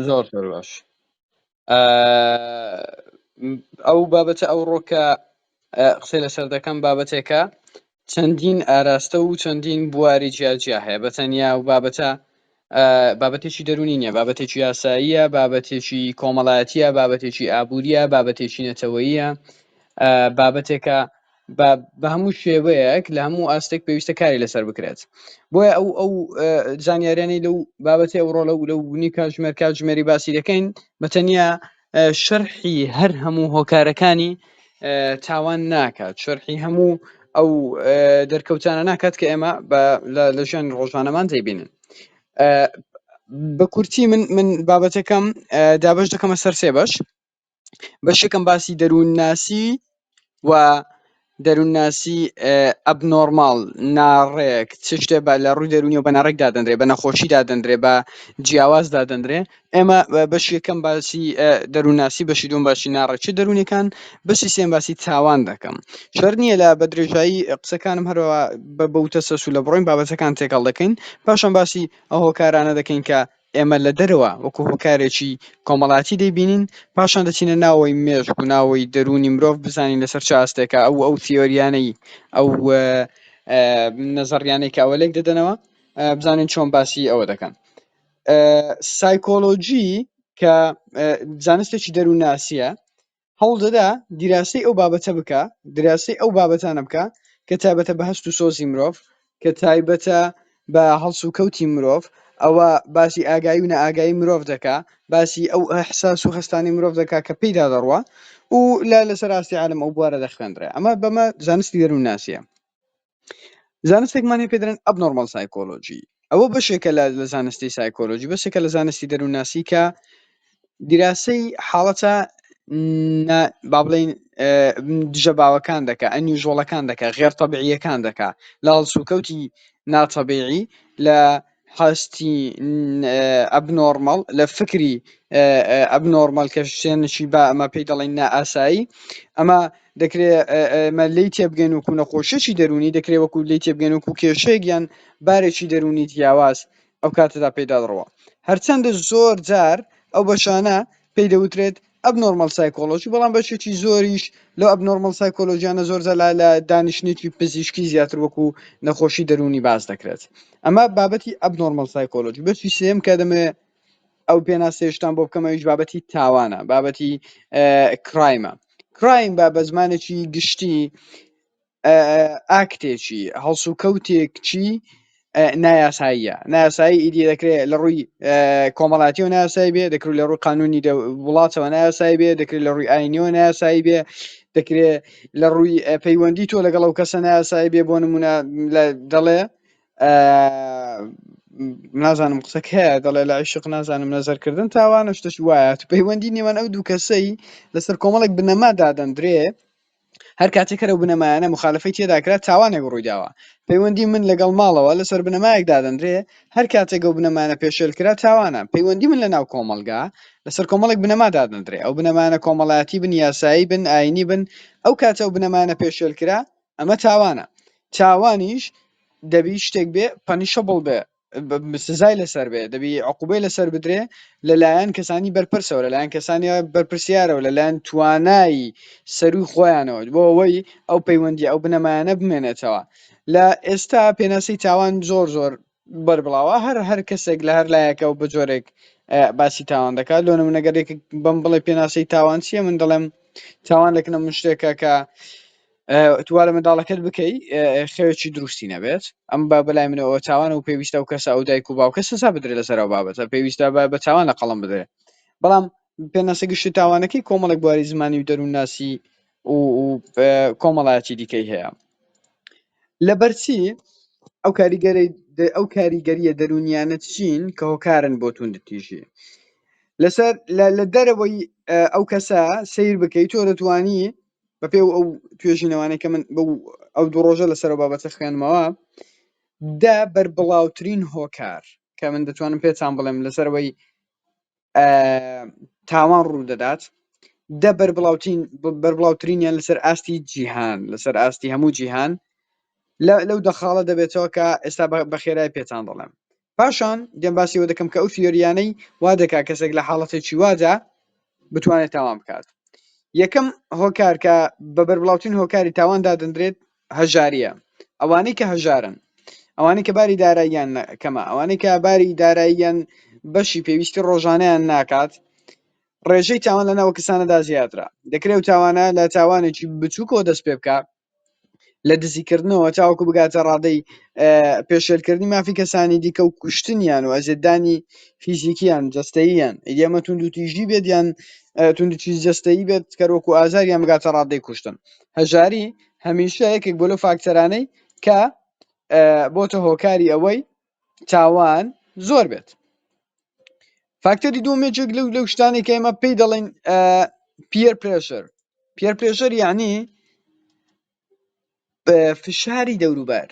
زۆر زۆر باش ئەو بابەتە ئەو ڕۆکە قسەی لەسەر دەکەم بابەتێکە چەندین ئاراستە و چەندین بواری جیاجیا هەیە بە تەنیا و بابەتە بابەتێکی دەرونی نیە بابەتێکی یاساییە بابەتێکی کۆمەڵایەتە بابەتێکی ئابوووریە بابەتێکی نەتەوەیە بابەتێکە بە بە هەموو شێوەیەک لە هەموو ئاستێک پێویستە کاری لەسەر بکرێت بۆیە ئەو ئەو زانیاریانی لەو بابەتی ئەوڕۆ لە و لە ونی کاتژمێر کاتژمێری باسی دەکەین بەتەنیا شەرحی هەر هەموو هۆکارەکانی تاوان ناکات شەرحی هەموو ئەو دەرکەوتانە ناکات کە ئێمە لە ژیان ڕۆژانەمان دەیبینن بە کورتی من من بابەتەکەم دابش دەکەمە سەر سێ بەش بەشێکم باسی دەروون ناسی و دەروون ناسی ئەب نۆرماڵ ناڕێک چ شتێ بە لە ڕووی دەرونی و بە ناڕێک دادەنرێ بە نەخۆشی دادەنرێ بە جیاواز دادەنرێ ئێمە بەشی یەکەم باسی دەروون ناسی بەشی دوم باسی ناڕێک چ دەروونەکان بەشی سێم باسی تاوان دەکەم شەر نییە لە بە درێژایی قسەکانم هەرەوە بە بەوتە سەسو لە بڕۆین بابەتەکان تێکەڵ دەکەین پاشان باسی ئەو هۆکارانە دەکەین کە ئێمە لە دەرەوە وەکو هۆکارێکی کۆمەڵایەتی دەیبینین، پاشان دەچینە ناوەوەی مێشک و ناوەوەی دەروونی مرۆڤ بزانین لەسەر چ ئاستێکە ئەو و ئەو تیۆریانەی ئەو نەزەڕیانەی کە ئەوە لێک دەدەنەوە بزانین چۆن باسی ئەوە دەکەن سایکۆلۆجی کە زانستێکی دەروونناسیە هەوڵ دەدا دیراسەی ئەو بابەتە بکا دراسەی ئەو بابەتانە بکا کە تابەتە بە هەست و سۆزی مرۆڤ کە تایبەتە بە هەڵس و کەوتی مرۆڤ ئەوە باسی ئاگایی و نەئاگایی مرۆڤ دەکا باسی ئەو ئەحساس و هەستانی مرۆڤ دەکا کە پێیدا دەڕوە و لا لەسەر ئاستی عالم ئەو بوارە دەخوێندرێ ئەمە بەمە زانستی دەروون ناسیە زانستێکمان هەیە پێ دەڵێن ئەبنۆرماڵ سایکۆلۆژی ئەوە بەشێکە لە لە زانستی سایکۆلۆژی بەشێکە لە زانستی دەروونناسی کە دیراسەی حاڵەتە با بڵین دژە باوەکان دەکە ئەنیژۆڵەکان دەکە غێر تەبعیەکان دەکە لە هەڵسوکەوتی ناتەبیعی لە هەستی ئەبنۆرماڵ لە فکری ئەبنۆرماڵ کە شتێنشی با ئەمە پێی دەڵێن نائاسایی ئەمە دەکرێ ئێمە لێی تێبگەین وەکو نەخۆشیی دەروونی دەکرێت وەکو لێی تێبگەن وەکو کێشەیەک یان بارێکی دەروونی جیاواز ئەو کاتەدا پێی دەدڕوا هەرچەندە زۆر جار ئەو بەشانە پێی دەوترێت ئەبنۆرماڵ سایکۆلۆژی بەڵام بەشێکی زۆریش لەو ئەبنۆرماڵ سایکۆلۆژیانە زۆر زەلا لە دانیشتنێکی پزیشکی زیاتر وەکو نەخۆشی دەروونی باس دەکرێت ئەمە بابەتی ئەبنۆرماڵ سایکۆلۆژی بەشی سێم کە دەمێ ئەو پێناسێشتان بۆ بکەمەویش بابەتی تاوانە بابەتی کرایمە کرایم بە بە زمانێکی گشتی ئاکتێکی هەڵسوکەوتێکچی نایاساییە نایاسایی ئیدی دەکرێت لە ڕووی کۆمەڵاتیەوە ناسای بێ دەکرێت لە ڕووی قانونی وڵاتەوە ناسای بێ دەکرێت لە ڕووی ئاینیەوە ناسایی بێ دەکرێت لە ڕووی پەیوەندی تۆ لەگەڵ ئەو کەسە ناسایی بێ بۆ نمونە دەڵێ نازانم قسەکە دەڵێ لە عیشق نازانم نەزەرکردن تاوانە شتش وایە پەیوەندی نێوان ئەو دوو کەسەی لەسەر کۆمەڵێک بنەما دادەندرێ هەر کاتێک کە لەو بنەمایانە مخالفەی تێدا کرا تاوانێک ڕوویداوە پەیوەندی من لەگەڵ ماڵەوە لەسەر بنەمایەک دادەنرێ هەر کاتێک ئەو بنەمایانە پێشێل کرا تاوانە پەیوەندی من لەناو کۆمەڵگا لەسەر کۆمەڵێک بنەما دادەنرێ ئەو بنەمایانە کۆمەڵایەتی بن یاسایی بن ئاینی بن ئەو کاتە ئەو بنەمایانە پێشێل کرا ئەمە تاوانە تاوانیش دەبی شتێک بێ پەنیشەبڵ بێ ب- سزای لەسەر بێ دەبی عقوبەی لەسەر بدرێ لەلایەن کەسانی بەرپرسەوە لەلایەن کەسانی بەرپرسیارەوە لەلایەن توانای سەروی خۆیانەوە بۆ ئەوەی ئەو پەیوەندی ئەو بنەمایانە بمێنێتەوە لە ئێستا پێناسی تاوان زۆر زۆر بەربڵاوە هەر هەر کەسێک لە هەر لایەکە و بە جۆرێک اه، باسی تاوان دەکات لۆ منەگەرێک بم بڵێ پێناسی تاوان چییە من دەڵێم تاوان لەکنە من شتێکە کە توا لە منداڵەکەت بکەی خەوێکی دروستی نەبێت ئەم با بەلای منەوە تاوانە و پێویستە و کەسە ئەو دایک و باوکە سزا بدرێت لەسەر ئەو بابەتە پێویستە بە بە تاوان لە قەڵم بدرێت بەڵام پێناسە گشتی تاوانەکەی کۆمەڵێک بواری زمانی و دەروونناسی و کۆمەڵایەتی دیکەی هەیە لەبەرچی ئەو کاریگەری ئەو کاریگەریە دەرونیانە چین کە هۆکارن بۆ توندتیژی لەسەر لە دەرەوەی ئەو کەسە سیر بکەیت تۆ دەتوانی بە پێی ئەو توێژینەوانەی کە من بەو ئەو دوو ڕۆژە لەسەر ئەو بابەتە خوێندمەوە دە بەربڵاوترین هۆکار کە من دەتوانم پێتان بڵێم لەسەرەوەی تاوان ڕوو دەدات دە بەربڵاوترین بەربڵاوترینیان لەسەر ئاستی جیهان لەسەر ئاستی هەموو جیهان لە- لەو دەخاڵە دەبێتەوە کە ئێستا بە- بە خێرای پێتان دەڵێم پاشان دێم باسی ئەوە دەکەم کە ئەو تیۆریانەی وا دەکا کەسێک لە حاڵەتێکی وادا بتوانێت تاوان بکات یەکەم هۆکار کە بە بەربڵاوترین هۆکاری تاوان دادەندرێت هەژاریە ئەوانەی کە هەژارن ئەوانەی کە باری داراییان کەمە ئەوانەی کە باری داراییان بەشی پێویستی ڕۆژانیان ناکات ڕێژەی تاوان لە ناوە کەسانەدا زیاترە دەکرێت و تاوانە لە تاوانێکی بچووکەوە دەست پێ بکە لە دزیکردنەوە تاوەکو بگاتە ڕادەی پێشێلکردنی مافی کەسانی دیکە و کوشتنیان و ئەزێتدانی فیزیکیان جەستەییان ئەمە توندوتیژی بێت یان توندوتیژی جەستەیی بێت کەرۆک و ئازاریان بگاتە ڕادەی کوشتن هەژاری هەمیشە یەکێک بۆ لەو فاکتەرانەی کە بۆتە هۆکاری ئەوەی تاوان زۆر بێت فاکتەری دوم یەکێک لەو لەو شتانی کە ئێمە پێی دەڵێن پیەر پرێشەر پیەر پرێشەر یعنی فشاری دەوروبەر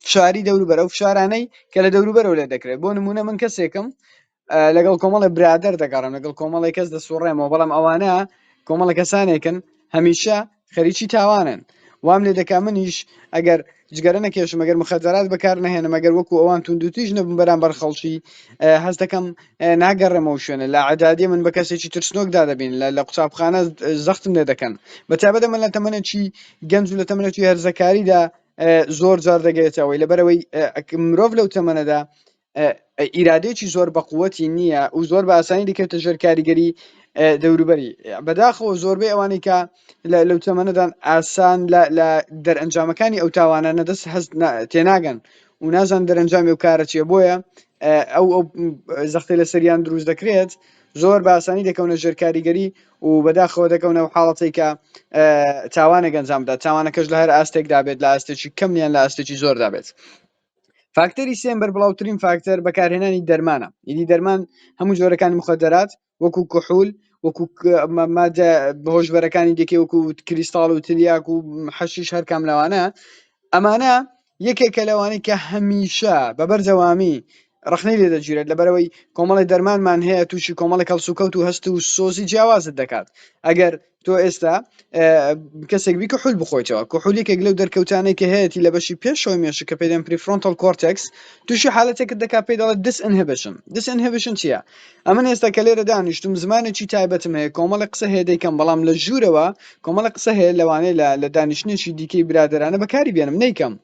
فشاری دەوروبەر ئەو فشارانەی کە لە دەوروبەرەوە لێ دەکرێت بۆ نمونە من کەسێکم لەگەڵ کۆمەڵی برادر دەگەڕم لەگەڵ کۆمەڵی کەس دەسوڕێمەوە بەڵام ئەوانە کۆمەڵە کەسانێکن هەمیشە خەریکی تاوانن وام لێ دەکا منیش ئەگەر جگەرە نەکێشم ئەگەر مخەجارات بەکار نهێنم ئەگەر وەکو ئەوان توندوتیش نەبم بەرام بەر خەڵکی هەز دەکەم ناگەڕێمەوە شوێنە لە عدادی من بە کەسێکی ترسنۆکدا دەبین لە لە قوتابخانە زەختم لێ دەکەن بەتابەت من لە تەمەەکی گەنج و لە تەمەەکی هەرزەکاریدا زۆر جار دەگەێتەوەی لەبەرەوەی مرۆڤ لەو تەمەەدا ئیرادەیەکی زۆر بە قوتی نییە و زۆر بە ئاسانی دەکەوێتە ژێر کاریگەری دەوروبەری بەداخەوە زۆربەی ئەوانەی کە لەو تەمەنەدان ئاسان لە دەرئەنجامەکانی ئەو تاوانە نەدەست هەست تێناگەن و نازان دەرەنجامی و کارە چیە بۆیە ئەو ئەو زەختی لە سەریان دروست دەکرێت زۆر باسانی دەکەونە ژێر کاریگەری و بەداخەوە دەکەونە و حاڵەتی کە تاوانە گەنجامدا تاوانەکەش لە هەر ئاستێکدا بێت لە ئاستێکی کەمیان لە ئاستێکی زۆردا بێت فاکتەری سێم بەربڵاوترین فاکتەر بەکارهێنانی دەرمانە یدی دەرمان هەموو جۆرەکانی مخدرات وەکو کحول وەکو مادە بەهۆشبەرەکانی دەکێ وەکو کریستاڵ و تلیاک و حەشیش هەرکام لەوانە ئەمانە یەکێکە لەوانی کە هەمیشە بەبەر جەوامی ڕخنەی لێ دەگیرێت لەبەرەوەی کۆمەڵی دەرمانمان هەیە تووشی کۆمەڵی کەڵسوکەوت و هەست و سۆزی جیاوازت دەکات ئەگەر تۆ ئێستا کەسێک بی کحول بخۆیتەوە کحول یەکێک لەو دەرکەوتانەی کە هەیەی لە بەشی پێشەوەی مێشک کە پێدەن پریفرۆنتەل کۆرتێکس تووشی حالەتێکت دەکات پێی دەڵێت دس ئەنهبشن دس ئەنهبشن چییە ئەمن ئێستا کە لێرە دانیشتم زمانێکی تایبەتم هەیە کۆمەڵی قسە هەیە دەیکەم بەڵام لە ژوورەوە کۆمەڵە قسە هەیە لەوانەیە لە لە دانیشتنێکی دیکەی برادرانە بەکاری بێنم نیکەم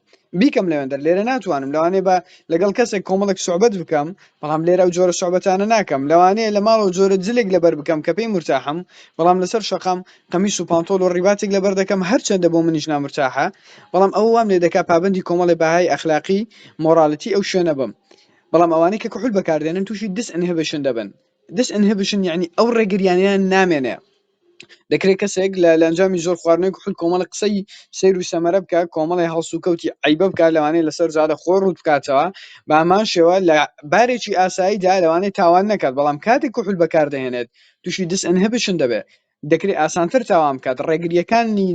بیکەم لەوێندەر لێرە ناتوانم لەوانێ بە لەگەڵ کەسێک کۆمەڵێک سوعبەت بکەم بەڵام لێرە ئەو جۆرە سوعبەتانە ناکەم، لەوانەیە لە ماڵەوە جۆرە جلێک لەبەر بکەم کە پێی مورتاحم، بەڵام لەسەر شەقام قەمیس و پانتۆڵ و ڕیباتێک لەبەر دەکەم هەرچەندە بۆ منیش نامورتاحە، بەڵام ئەوە وام لێدەکا پابەندی کۆمەڵێ بەهای ئەخلاقی، مۆڕالتی، ئەو شوێنە بم. بەڵام ئەوانەی کە کحول بەکاردێنن تووشی Disinhibition دەبن، Disinhibition یەعنی ئەو ڕێگرییانەیان نامێنێ. دەکرێ کەسێک لە لە ئەنجامی زۆر خواردنەوەی کحول کۆمەڵە قسەی سەیر و سەمەرە بکا کۆمەڵێ هەڵسوکەوتی عەیبە بکا لەوانەیە لەسەر جادە خۆی ڕووت بکاتەوە بە هەمان شێوە لە بارێکی ئاساییدا لەوانەیە تاوان نەکات بەڵام کاتێک کحول بەکاردەهێنێت تووشی دس ئنهبشن دەبێ دەکرێ ئاسانتر تاوان بکات ڕێگریەکانی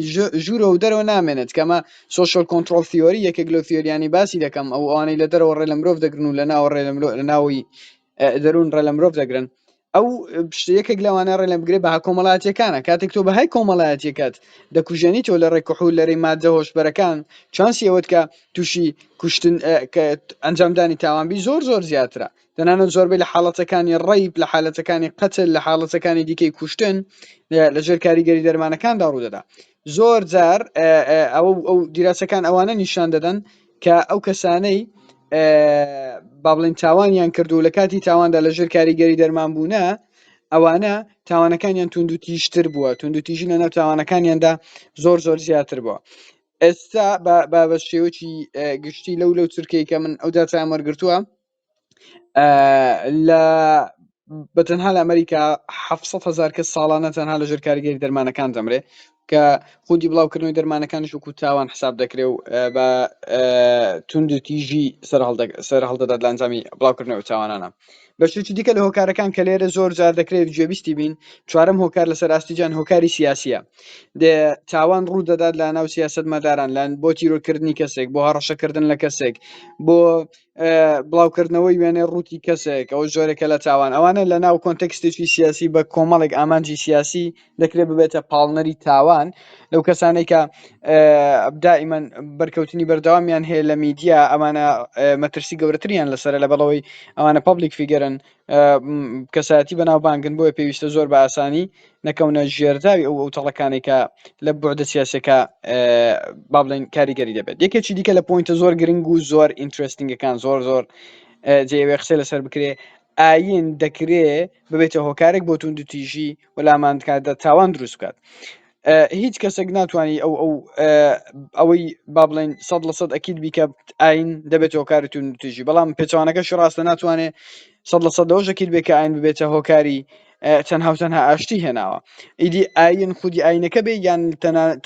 ژوورەوە و دەرەوە نامێنێت کەمە سوشل کۆنتترۆل تیۆری یەکێک لە تیۆریانی باسی دەکەم ئەو ئەوانەی لە دەرەوە ڕێ لە مرۆڤ دەگرن و لە ناوە ڕێ لە ناوی دەرون ڕێ لە مرۆڤ دەگرن ئەو یەکێک لەوانە ڕێ لە بگرێ بەها کۆمەڵاتیەکانە کاتێک تۆ بەهای کۆمەڵایەتەکەت دەکوژێنی تۆ لە ڕێکوحول لەرەی مادە هۆشبەرەکان چانسی ئەوەت کە تووشی کوشتن ئەنجامدانی تاوانبی زۆر زۆر زیاترە دەنانەت زۆربەی لە حاڵەتەکانی ڕیب لە حالەتەکانی قەتل لە حاڵەتەکانی دیکەی کوشتن لە ژێر کاریگەری دەرمانەکاندا ڕوودەدا زۆر جار ئەو ئەو دیراسەکان ئەوانە نیشان دەدەن کە ئەو کەسانەی با بڵێین تاوانیان کرد و لە کاتی تاواندا لە ژێر کاریگەری دەرمان بوونە ئەوانە تاوانەکانیان توندوتیشتر بووە توندوتیژی لە ناو تاوانەکانیاندا زۆر زۆر زیاتر بووە ئێستا بە شێوەی گشتی لەو لەو چرکەی کە من ئەو داتایان وەرگتووە بە تەنها لە ئەمریکا حەفت سەد هەزار کەس ساڵانە تەنها لە ژێر کاریگەری دەرمانەکان دەمرێ کە خودی بڵاوکردنەوەی دەرمانەکانیش وەکو تاوان حساب دەکرێ و بە توندتیژی سەر هەڵدەدات لە ئەنجامی بڵاوکردنەوە تاوانانە بە شێوەیەکی دیکە لە هۆکارەکان کە لێرە زۆر جار دەکرێت گوێبیستی بین چوارەم هۆکار لەسەر ئاستی جان هۆکاری سیاسیە تاوان ڕوو دەدات لە ناو سیاست مەداران لەن بۆ تیرۆرکردنی کەسێک بۆ هەڕەشەکردن لە کەسێک بۆ بڵاوکردنەوەی وێنەی ڕووتی کەسێک ئەو جۆرێکە لە تاوان ئەوانە لە ناو کۆنتەکستێکی سیاسی بە کۆمەڵێک ئامانجی سیاسی دەکرێت ببێتە پاڵنەری تاوان لەو کەسانێکە دائیمەن بەرکەوتنی بەردەوامیان هەیە لە میدیا ئەمانە مەترسی گەورەتریان لەسەر لە بەڵەوەی ئەوانە پبلیک فیگەرن کەسایەتی بەناوبانگن بۆیە پێویستە زۆر بە ئاسانی نەکەونە ژێرداوی ئەو ئەو تەڵەکانی کە لە بۆردە سیاسەکە با بڵێن کاریگەری دەبێت یەکێکی دیکە لە پوینتە زۆر گرنگ و زۆر ئینترستنگەکان زۆر زۆر جێوێ قسە لەسەر بکرێ ئاین دەکرێ ببێتە هۆکارێک بۆ توندتیژی وەلاماندکاتدا تاوان دروست بکات هیچ کەسەک ناتوانی ئەو ئەو ئەوەی با بڵێن سەد لە سەد ئەکید بیکە ئاین دەبێت هۆکاری تون توژی بەڵام پێچوانەکەش ڕاستە ناتوانێت سەد لە سەد لەەوەش ئەکید بێ کە ئاین ببێتە هۆکاری تەنها و تەنها ئاشتی هێناوە ئیدی ئاین خودی ئاینەکە بێ یان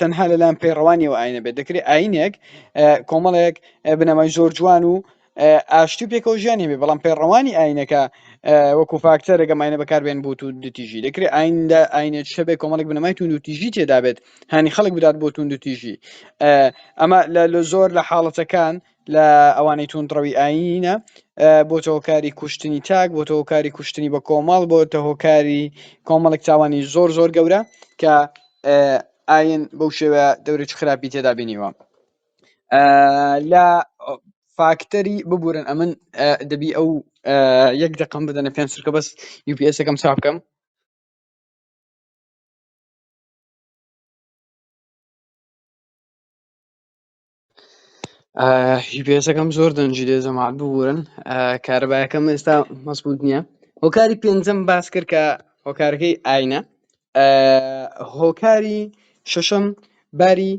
تەنها لەلایەن پەیڕەوانیەوە ئاینە بێت دەکرێت ئاینێک کۆمەڵێک بنەمای زۆر جوان و ئاشتی و پێکەوە ژیان هەبێ بەڵام پەیڕەوانی ئاینەکە وەکو فاکتەر گەم ئاینە بەکاربێن بۆ تو دوتیژی دەکرێت ئایندا ئاینە شەبێ کۆمەڵک بنەمای تون و تیژی تێدابێت هانی خەڵک بدات بۆ تون دوتیژی ئەمە لە زۆر لە حاڵەتەکان لە ئەوانەی توندڕەوی ئاینە بۆ تەوەکاری کوشتنی تاک بۆ تەوەکاری کوشتنی بە کۆمەڵ بۆ تەهۆکاری کۆمەڵک تاوانی زۆر زۆر گەورە کە ئاین بەو شێوە دەورێکی خراپی تێدا بینیوە لە فاکتەری ببورن ئەمن دەبی ئەو یەک دەقم بدەنە پێم سرکە بەس یوپسەکەم سا بکەم یوپسەکەم زۆر دەنجی لێ زەمات ببورن کارەبایەکەم ئێستا مەسبوت نییە هۆکاری پێنجەم باس کرد کە هۆکارەکەی ئاینە هۆکاری شەشەم باری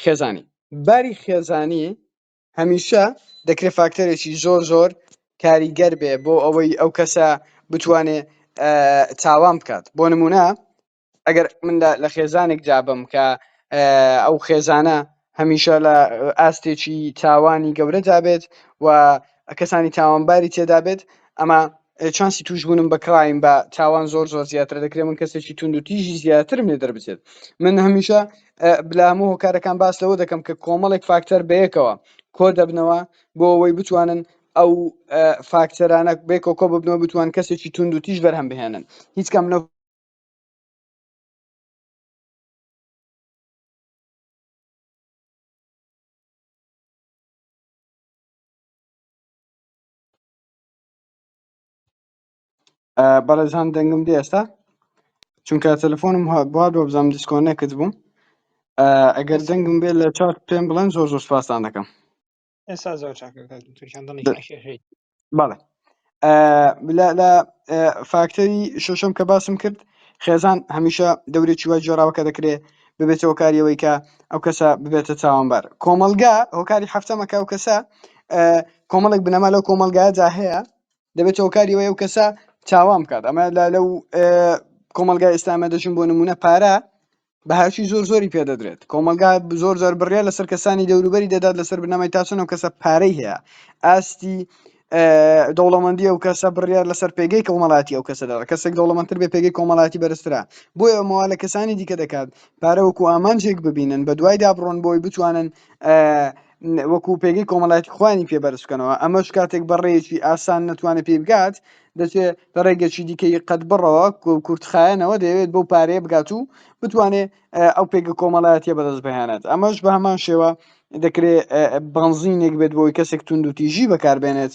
خێزانی باری خێزانی هەمیشە دەکرێت فاکتەرێکی زۆر زۆر کاریگەر بێ بۆ ئەوەی ئەو کەسە بتوانێ تاوان بکات بۆ نمونە ئەگەر من لە خێزانێک جابم کە ئەو خێزانە هەمیشە لە ئاستێکی تاوانی گەورە دابێت و کەسانی تاوانباری تێدابێت ئەمە چانسی تووشبوونم بە کرایم بە تاوان زۆر زۆر زیاتر دەکرێت من کەسێکی تونند و تیژی زیاترم لێ دەربچێت من هەمیشە بلام و هۆکارەکان باس لەوە دەکەم کە کۆمەڵێک فاکتەر بەیەکەوە کۆ دەبنەوە بۆ ئەوەی بتوانن ئەو فاکتەرانە بێکۆ کۆ ببنەوە بتوان کەسێکی تونند و تیژ بەرهەم بهێنن هیچ کەم لەو بەڕێزان دەنگم دێ ئێستا چونکە تەلەفۆنم بوار بۆ بزانم دیسکۆنێکت بووم ئەگەر دەنگم بێ لە چات پێم بڵێن زۆر زۆر سپاستان دەکەم ئێستا زۆر بەڵێ لە فاکتەری شەشم کە باسم کرد خێزان هەمیشە دەورێکی وای جۆراوەکە دەکرێ ببێتەوە کاریەوەی کە ئەو کەسە ببێتە چاوانبار کۆمەلگا هۆکاری هەفتەمەکە ئەو کەسە کۆمەڵێک بنەما لەو کۆمەلگایەدا هەیە دەبێت هۆکاری وەیە و کەسە چاوان بکات ئەمە لە لەو کۆمەلگای ئێستامە دەچون بۆ نمونە پارە بەهاوی زۆر زۆری پێدەدرێت کۆمەلگا زۆر زۆر بڕە لەسەر کەسانی دەوروبەری دەدات لەسەر بنەمای تاسنەوە کەسە پارەی هەیە ئاستی دەوڵەمەندی ئەو کەسە بڕیار لەسەر پێگەی کۆمەڵاتی ئەو کەسەدا کەسێک دەوڵەمەندتر بێ پێگەی کۆمەڵاتی بەرزرا بۆی ئەمەوە لە کەسانی دیکە دەکات پارەوەکو ئامانجێک ببینن بە دوایدا بڕۆن بۆی بتوانن وەکو پێگەی کۆمەڵایەتی خوانی پێ بەرز بکەنەوە ئەمەش کاتێک بەڕێیەکی ئاسان نەتوانێت پێی بگات دەچێت لە ڕێگەچی دیکەی قەت بڕەوە کورتخایەنەوە دەیەوێت بەو پارەیە بگات و بتوانێت ئەو پێگە کۆمەڵایەتە بەدەست بهێنێت ئەمەش بە هەمان شێوە دەکرێت بنزینێک بێت بۆی کەسێک تونند و تیژی بەکاربێنێت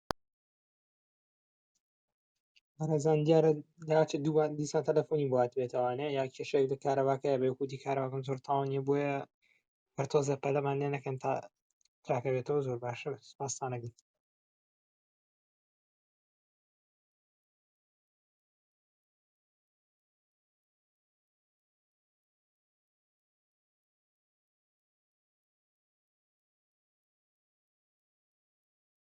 بەڕێزان دیارە داچێ دووبار دیسان تەلەفۆنی باتێتوانێ یا کێشێک لە کارەباکە بێ کوتی کارەباکەم زۆر تاوانیە بۆیە هەر تۆزێ پەلەمان لێ نەکەن تا تاکەوێتەوە زۆر باشە سپاسانەگەن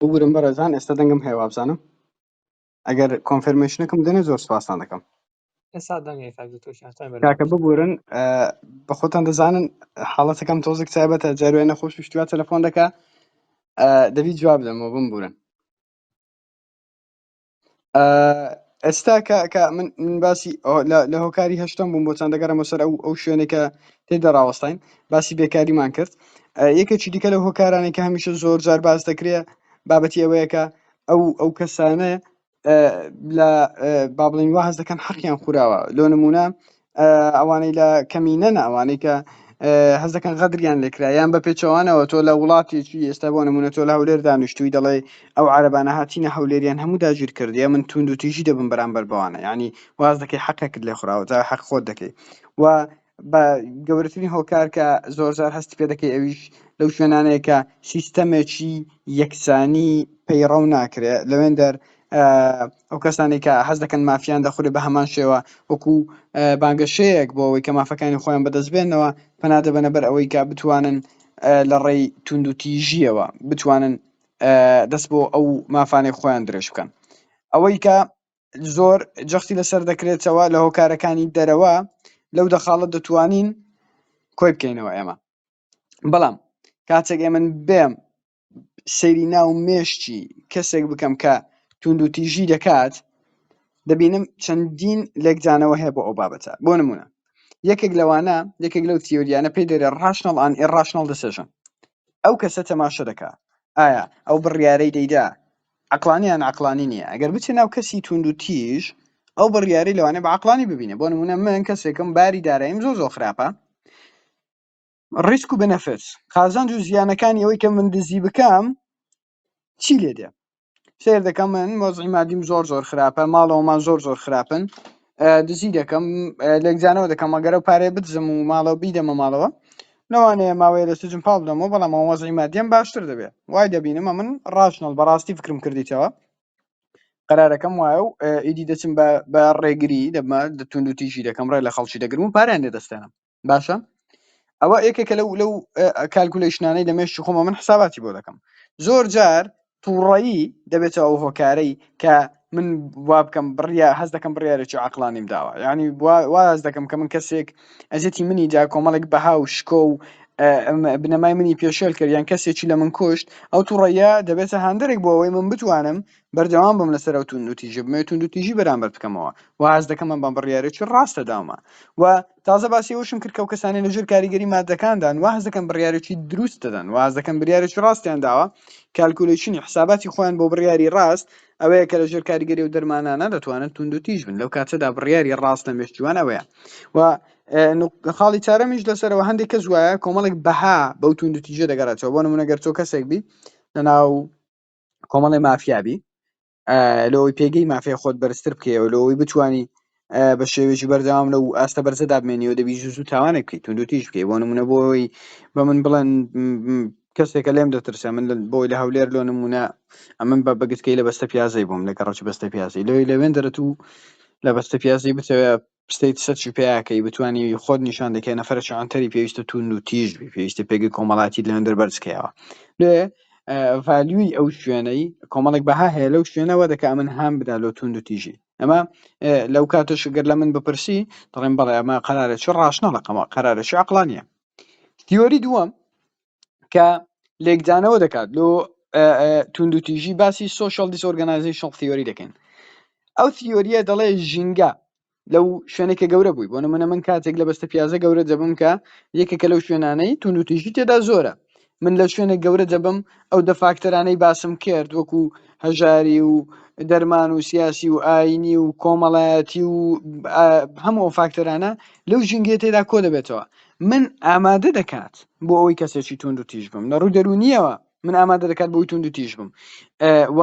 ببورن بەڕێزان ئێستا دەنگم هەیە وابزانم ئەگەر کۆنفرمشنەکەم دەنێ زۆر سوپاستان دەکەم کاکە ببورن بە خۆتان دەزانن حاڵەتەکەم تۆزێک تایبەتە جاروای نەخۆش شتوا تەلەفۆن دەکە دەبی جواب دەمەوە بم بورن ئێستا کە من باسی لە هۆکاری هەشتم بووم بۆ چەند دەگەرەمە سەر ئەو شوێنێکە تێدا ڕاوەستین باسی بێکاریمان کرد یەکێکی دیکە لە هۆکارانی کە هەمیشە زۆر جار باز دەکرێت بابەتی ئەوەیەکە ئەو ئەو کەسانە لە بابلین وا هەز دەکەن حەقیان خوراوە لۆ نمونە ئەوانەی لە کەمینەن ئەوانەی کە حەز دەکەن غەدریان لێکرا یان بە پێچەوانەوە تۆ لە وڵاتێکی ئێستا بۆ نمونە تۆ لە هەولێر دانیشتووی دەڵێ ئەو عربانە هاتینە هەولێریان هەموو داگیر کردیە من توند و تیژی دەبم بەرامبەر بەوانە ینی واز دەکەی حەقێکت لێ خوراوە جا حەق خۆت دەکەی و بە گەورەترین هۆکار کە زۆر زار هەستی پێ دەکەی ئەویش لەو شوێنانەیە کە سیستەمێکی یەکسانی پەیڕەو ناکرێت لەوێن دەر ئەو کەسانەی کە حەز دەکەن مافیان دەخورێ بە هەمان شێوە وەکو بانگەشەیەک بۆ ئەوەی کە مافەکانی خۆیان بەدەست بێنەوە پەنا دەبەنە بەر ئەوەی کە بتوانن لە ڕێی توندوتیژیەوە بتوانن دەست بۆ ئەو مافانەی خۆیان درێژ بکەن ئەوەی کە زۆر جەختی لەسەر دەکرێتەوە لە هۆکارەکانی دەرەوە لەو دەخاڵە دەتوانین کۆی بکەینەوە ئێمە بەڵام کاتێک ئێمن بێم سەیری ناو مێشکی کەسێک بکەم کە توندوتیژی دەکات دەبینم چەندین لێکدانەوە هەیە بۆ ئەو بابەتە بۆ نمونە یەکێک لەوانە یەکێک لەو تیۆریانە پێی دەرێ ڕاشنەڵ ئان ئێ ڕاشنەڵ دەسێژن ئەو کەسە تەماشە دەکا ئایا ئەو بڕیارەی دەیدا عقلانیان عقلانی نییە ئەگەر بچێ ناو کەسی توند و تیژ ئەو بڕیاری لەوانێ بە عقلانی ببینێ بۆ نمونە من کەسێکم باری داراییم زۆر زۆر خراپە ڕیسک و بنەفت قازانج و زیانەکانی ئەوەی کە من دزی بکەم چی لێ دێ سێر دەکەم من مۆزی مادیم زۆر زۆر خراپە ماڵەوەمان زۆر زۆر خراپن دزی دەکەم لەگزانەوە دەکەم ئەگەرە و پارێ بدزم و ماڵەوە بیدەمە ماڵەوە لەوانەیە ماوەیە لە سجم پاڵ بدەمەوە بەڵام مۆزی مادیم باشتر دەبێت وای دەبینمە من ڕاشنەڵ بەڕاستی فکرم کردیتەوە قرارەکەم وایە و ئیدی دەچم بە ڕێگری دەبمە دەتون و تیژی دەکەم ڕێ لە خەڵکی دەگرم و پاریان لێ دەستێنم باشە ئەوە یەکێکە لەو لەو کالکولەیشنانەی لە مێشی خۆمە من حساباتی بۆ دەکەم زۆر جار تووڕایی دەبێتەوە ئەو هۆکارەی کە من وا بکەم بڕیا هەز دەکەم بڕارێکی عقلانیم داوە ینی واز دەکەم کە من کەسێک ئەزیەتی منی جا کۆمەڵێک بەها و شکۆ و بنەمای منی پێشێل کرد یان کەسێکی لە من کوشت ئەو توڕەیە دەبێتە هاندێک بۆ ئەوەی من بتوانم بەردەوام بم لەسەر ئەو توندوتیژیە بمەوێت توندوتیژی بەرامبەر بکەمەوە و هەست دەکەم من بەم بڕیارێکی ڕاستە داومە و تازە باسی ئەوشم کرد کە و کەسانی لەژێر کاریگەری مادەکاندان و هەست دەکەم بڕیارێکی دروست دەدەن و هەست دەکەم بریارێکی ڕاستیان داوە کالکولیشنی حساباتی خۆیان بۆ بڕیاری ڕاست ئەوەیە کە لەژێر کاریگەری و دەرمانانە دەتوانن توندوتیژ بن لەو کاتەدا بڕیاری ڕاست لە مێشکیوان ئەوەیە و خاڵی چارەمیش لەسەرەوە هەندێک کەس وایە کۆمەڵێک بەها بەو توندوتیژە دەگەڕێتەوە بۆ نمونە گەر تۆ کەسێک بی لەناو کۆمەڵی مافیابی لەوەی پێگەی مافی خۆت بەرزتر بکەیەوە لەوەی بتانی بە شێوێکی بەردەوام لە و ئاستە بەرزە دابمێنیەوە دەبی زوو تاوانێک بکەیت تونند تیش بکەی بۆ نمونە بۆی بە من بڵێن کەسێکە لێم دەترسە من بۆی لە هەولێر لۆ نمونە ئەمن بە بەگتکەی لە بەستە پیازەی بووم لە گەڕکی بەستە پیازی لەوەی لەوێن دەرەت و لە بەستە پیازی بتەوێت ستەیت سەرچ و پێیا کەی بتوانی خۆت نیشان دەکەی نەفەرەکی عەنتەری پێویستە توون و تیژ بی پێویستە پێگەی کۆمەڵاتی لەوێندەر بەرزکەیەوە لێ ڤالیوی ئەو شوێنەی کۆمەڵێک بەها هەیە لەو شوێنەوە دەکە من هام بدا لۆ توون و تیژی ئەمە لەو کاتش گەر لە من بپرسی دەڵێن بەڵێ ئەمە قەرارە چ ڕاشنە لەقەمە قەرارە چ عقلانە تیۆری دووەم کە لێکدانەوە دەکات لۆ توندوتیژی باسی سوۆشال دیسۆرگەنایزی شڵ تیۆری دەکەین ئەو تیۆریە دەڵێ ژینگە لەو شوێنێک کە گەورە بووی بۆ نمونە من کاتێک لە بەستە پیازە گەورە دەبم کە یەکێکە لەو شوێنانەی توندوتیژی تێدا زۆرە من لە شوێنێک گەورە دەبم ئەو دە فاکتەرانەی باسم کرد وەکو هەژاری و دەرمان و سیاسی و ئاینی و کۆمەڵایەتی و هەموو فاکتەرانە لەو ژینگێ تێدا کۆ دەبێتەوە من ئامادە دەکات بۆ ئەوەی کەسێکی توند و تیژ بم لە ڕووی دەرونیەوە من ئامادە دەکات بۆی توند و تیژ بم و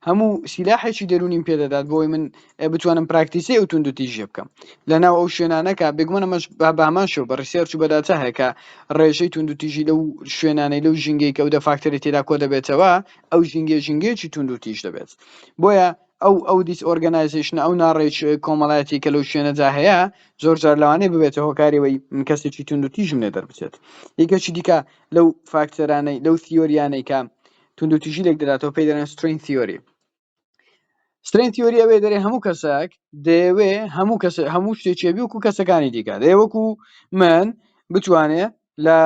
هەموو سیلاحێکی دەرونیم پێدەدات بۆی من بتوانم پراکتیسی ئەو توند و تیژە بکەم لە ناو ئەو شوێنانەکە بێگومەنەمەش بامان شو بە ڕسیێرچ و بەداچە هەیەکە ڕێژەی توند و تیژی لەو شوێنانەی لەو ژینگەی کە و دە فاکتەری تێدا کۆ دەبێتەوە ئەو ژینگە ژینگەیەکی توند و تیژ دەبێت بۆیە ئەو ئەو دیس ئۆرگەنایزەیشنە ئەو ناڕێچ کۆمەڵایەتی کە لەو شوێنەدا هەیە زۆر جار لەوانەیە ببێتە هۆکاریەوەی من کەسێکی توند و تیژم لێ دەربچێت یەکێکی دیکە لەو فاکتەرانەی لەو تیۆریانەی کە توند و تیژی لێک دەداتەوە پێی دەڵێن سترین تیۆری سترین تیۆری ئەوێ دەرێ هەموو کەسێک دەیەوێ هەموو کەس هەموو شتێکێبی وکو کەسەکانی دیکە دەیەوەکو من بتوانێ لە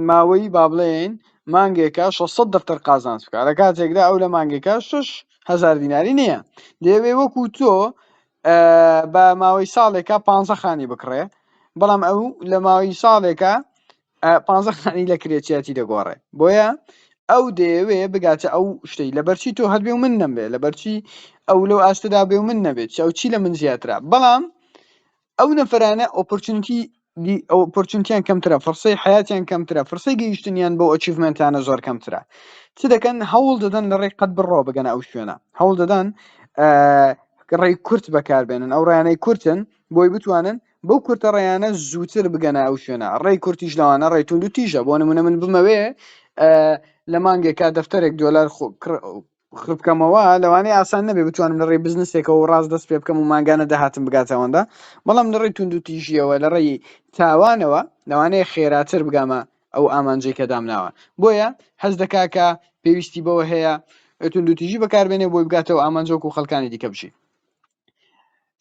ماوەی با بڵێین مانگێکە 600 دفتر قازانج بکە لە کاتێکدا ئەو لە مانگێکە 6 هزار دیناری نییە دەیەوێ وەکو تۆ بە ماوەی ساڵێکە پ خانی بکڕێ بەڵام ئەو لە ماوەی ساڵێکە پ خانی لە کرێچیاتی دەگۆڕێ بۆیە ئەو دەیەوێ بگاتە ئەو شتەی لەبەرچی تۆ هەبێ و من نەمبێ لەبەرچی ئەو لەو ئاستدا بێ و من نەبێت چاو چی لە من زیاترا بەڵام ئەو نەفرانە ئۆپۆرچونیتی دی ئۆپۆرچونتیان کەمترە فرسەی حیاتیان کەمترە فرسەی گەیشتنیان بۆ ئەچیڤمنتانە زۆر کەمترە چ دەکەن هەوڵ دەدەن لە ڕێی قەت بڕۆ بگەنە ئەو شوێنە هەوڵ دەدەن ڕێی کورت بەکاربێنن ئەو ڕیانەی کورتن بۆی بتوانن بەو کورتە ڕێیانە زووتر بگەنە ئەو شوێنە ڕێی کورتیش لەوانە ڕێتون و تیژە بۆ نمونە من بمەوێ لە مانگێکا دەفتەرێک دۆلار بکەمەوە لەوانەیە ئاسان نەبێ بتوانم لە ڕێی بزنسێکەوە ڕاست دەست پێ بکەم و ماگانە داهاتم بگاتە ئەوەندا بەڵام لە ڕێی توند و تیژیەوە لە ڕێی تاوانەوە لەوانەیە خێراتر بگامە ئەو ئامانجەی کە دامناوە بۆیە هەز دەکا کە پێویستی بەوە هەیە توند و تیژی بەکاربێنێ بۆی بگاتەوە ئامانجۆک و خەڵکانی دیکە بژی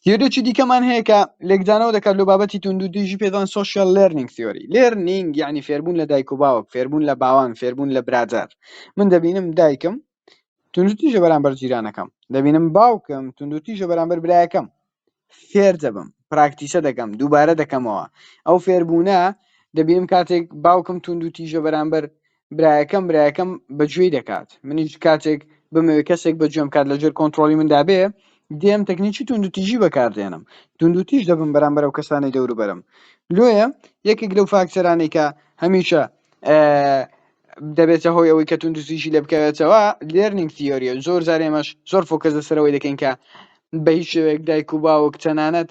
تیۆریی دیکەمان هەیە کە لێکدانەوە دەکات لەو بابەتی توندوتیژی پێدان سوسیال لێرنینگ تیۆری لێرنینگ یعنی فێربوون لە دایک و باوک فێربوون لە باوان فێربوون لە برادەر من دەبینم دایکم توندوتیژە بەرامبەر جیرانەکەم دەبینم باوکم توندوتیژە بەرامبەر برایەکەم فێر دەبم پراکتیسە دەکەم دووبارە دەکەمەوە ئەو فێربوونە دەبینم کاتێک باوکم توندوتیژە بەرامبەر برایەکەم برایەکەم بە گوێی دەکات منیش کاتێک بمەوێت کەسێک بە گوێم کات لەژێر کۆنتترۆلی مندا بێ دێم تەکنیکی توندوتیژی بەکاردێنم توندوتیش دەبم بەرام بەرەو کەسانی دەوروبەرم لۆیە یەکێک لەو فاکتەرانی کە هەمیشە دەبێتە هۆی ئەوەی کە توندوتیژی لە بکەوێتەوە لێرنینگ تیۆریە زۆر زارێمەش زۆر فۆکەس لەسەرەوەی دەکەین کە بە هیچ شێوەیەک دایک و باوک تەنانەت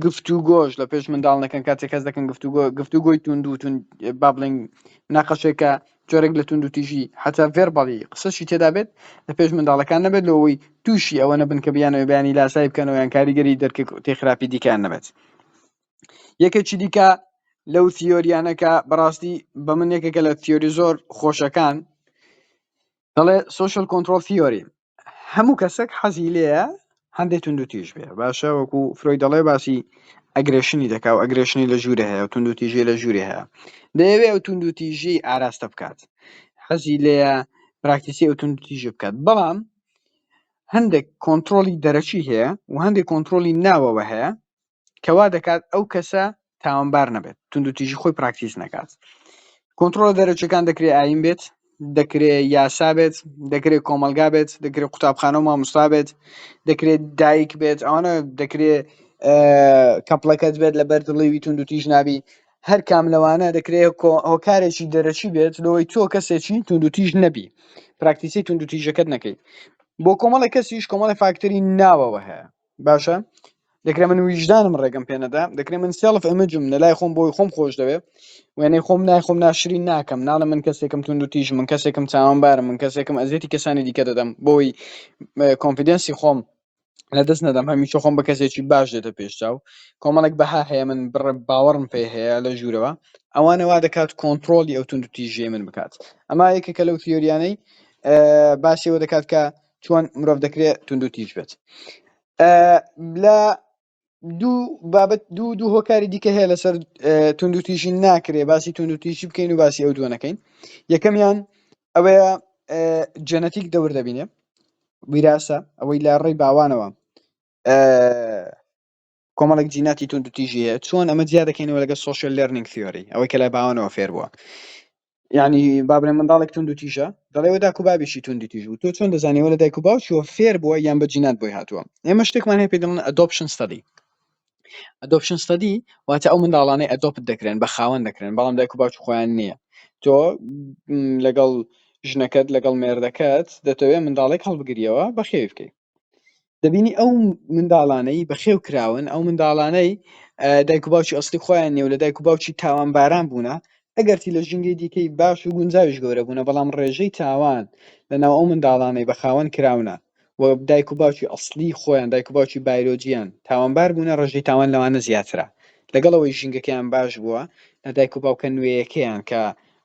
گفتوگۆش لە پێش منداڵ نەکەن کاتێک کەس دەکەن گفتوگۆ گفتوگۆی توندو تون با بڵێن ناقەشێکە جۆرێک لە توندو تیژی حتا ڤێرباڵی قسەشی تێدابێت لە پێش منداڵەکان نەبێت لەوەی تووشی ئەوە نەبن کە بیانەوە بیانی لاسایی بکەنەوە یان کاریگەری دەرک تێ خراپی دیکەیان نەبێت یەکێکی دیکە لەو تیۆریانەکە بەڕاستی بە من یەکێکە لە تیۆری زۆر خۆشەکان دەڵێ سوشل کۆنتترۆل تیۆری هەموو کەسێک حەزی لێیە هەندێک توندو تیژ بێ باشە وەکو فرۆی دەڵێ باسی ئەگرێشنی دەکا و ئەگرێشنی لە ژوورە هەیە و توندو تیژی لە ژووری هەیە دەیەوێ ئەو توندو تیژی ئاراستە بکات حەزی لێیە پراکتیسی ئەو توندو تیژی بکات بەڵام هەندێک کۆنتترۆلی دەرەکی هەیە و هەندێک کۆنتترۆلی ناوەوە هەیە کە وا دەکات ئەو کەسە تاوانبار نەبێت توندوتیژی خۆی پراکتیز نەکات کۆنتترۆل دەرەچەکان دەکرێت ئایم بێت دەکرێت یاسا بێت دەکرێت کۆمەلگا بێت دەکرێت قوتابخانە و ماموستا بێت دەکرێت دایک بێت ئەوانە دەکرێت کەپڵەکەت بێت لە بەر دڵیوی تونند و تیژ نابی هەر کام لەوانە دەکرێت هۆکارێکی دەرەچی بێت لەوەی تۆ کەسێکی تونند و تیژ نەبی پراکتیسی تونند و تیژەکەت نەکەیت بۆ کۆمەڵی کەسیش کۆمەڵی فاکتەری ناوەوە هەیە باشە دەکرێ من ویژدانم ڕێگەم پێ نەدا دەکرێ من سێڵف ئەمەجم لە لای خۆم بۆی خۆم خۆش دەوێ وێنەی خۆم نای خۆم ناشرین ناکەم ناڵە من کەسێکم تونند و تیژ من کەسێکم چاوانبارم من کەسێکم ئەزیەتی کەسانی دیکە دەدەم بۆی کۆنفیدنسی خۆم لە دەست نەدەم هەمیشە خۆم بە کەسێکی باش دێتە پێشچاو کۆمەڵێک بەها هەیە من بڕ باوەڕم پێ هەیە لە ژوورەوە ئەوانەوا دەکات کۆنتترۆلی ئەو تونند و تیژێ من بکات ئەما یەکێکە لەو تیۆریانەی باسیەوە دەکات کە چۆن مرۆڤ دەکرێ توندو تیژ بێت لە دوو بابەت دوو دوو هۆکاری دیکە هەیە لەسەر توندو تیژی ناکرێ باسی توندو تیژی بکەین و باسی ئەو دووەنەکەین یەکەمیان ئەوەیە جەنەتیک دەور دەبینێ ویراسە ئەوەی لە ڕێی باوانەوە کۆمەڵێک جیناتی توندوتیژی هەیە چۆن ئەمە جیا دەکەینەوە لەگە سوۆشل لێرنینگ ثیۆری ئەوەی کە لای باوانەوە فێر بووە یعنی بابرێن منداڵێک تونند و تیژە دەڵێەوە داکو بابیشی توندی تیژ و تۆ چۆن دەزانیەوە لە دایک و باوچوە فێر بووە یان بە جینات بۆی هاتووە ئێمە شتێکمان هەیە پێ دەڵن ئەدۆپشن ستەدی ئەدۆپشن ستەدی واتە ئەو منداڵانەی ئەدۆپت دەکرێن بە خاوەن دەکرێن بەڵام دایک و باوچ خۆیان نییە تۆ لەگەڵ ژنەکەت لەگەڵ مێردەکەت دەتەوێت منداڵێک هەڵبگریەوە بەخێوی بکەیت دەبینی ئەو منداڵانەی بەخێو کراون ئەو منداڵانەی دایک و باوکی ئەستی خۆیان نێو لە دایک و باوکی تاوان باران بوونە ئەگەرتی لە ژینگەی دیکەی باش و گونجاویش گەورە بوونە بەڵام ڕێژەی تاوان لەناو ئەو منداڵانەی بە خاوەن کراونە و دایک و باوکی ئەسلی خۆیان دایک و باوکی بایرۆجییان تاوانبار بوونە ڕێژەی تاوان لەوانە زیاترە لەگەڵەوەی ژینگەکەیان باش بووە لە دایک و باوکە نوێیەکەیان کە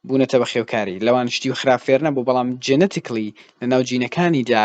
بوونەتە بە خێوکاری لەوان شتی خراپ فێرنە بوو بەڵام جێنەتیکلی لە ناو جینەکانیدا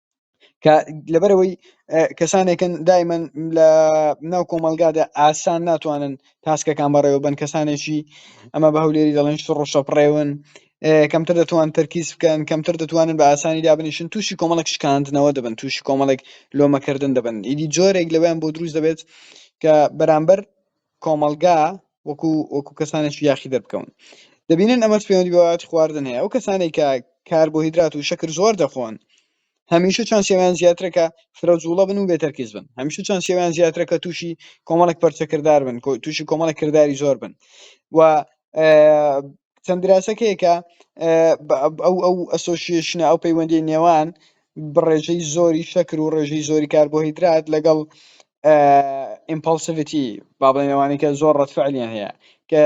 کە لەبەرەوەی کەسانێکن دایمەن لە ناو کۆمەلگادا ئاسان ناتوانن تاسکەکان بەڕێوە بن کەسانێکی ئەمە بە هەولێری دەڵێن شڕڕشە پڕێون کەمتر دەتوان تەرکیز بکەن کەمتر دەتوانن بە ئاسانی دابنیشن تووشی کۆمەڵک شکاندنەوە دەبن تووشی کۆمەڵێک لۆمەکردن دەبن ئیدی جۆرێک لەوەیان بۆ دروست دەبێت کە بەرامبەر کۆمەڵگا وەکو وەکو کەسانێکی یاخی دەربکەون دەبینن ئەمەش پەیوەندی بەوات خواردن هەیە ئەو کەسانێک کە کاربۆهیدرات و شەکر زۆر دەخۆن هەمیشە چانسیان زیاترە کە فرە جوڵە بن و بێتەرکیز بن هەمیشە چانسیان زیاترە کە تووشی کۆمەڵێک پەرچەکردار بن تووشی کۆمەڵێک کردداری زۆر بن و چەند دراسەکەیەکە ئەو ئەو ئەسۆسیشنە ئەو پەیوەندی نێوان بڕێژەی زۆری شەکر و ڕێژەی زۆری کاربۆهیدرات لەگەڵ ئیمپلسڤتی بابڵێنەوانی کە زۆر ڕەتفعلیان هەیە کە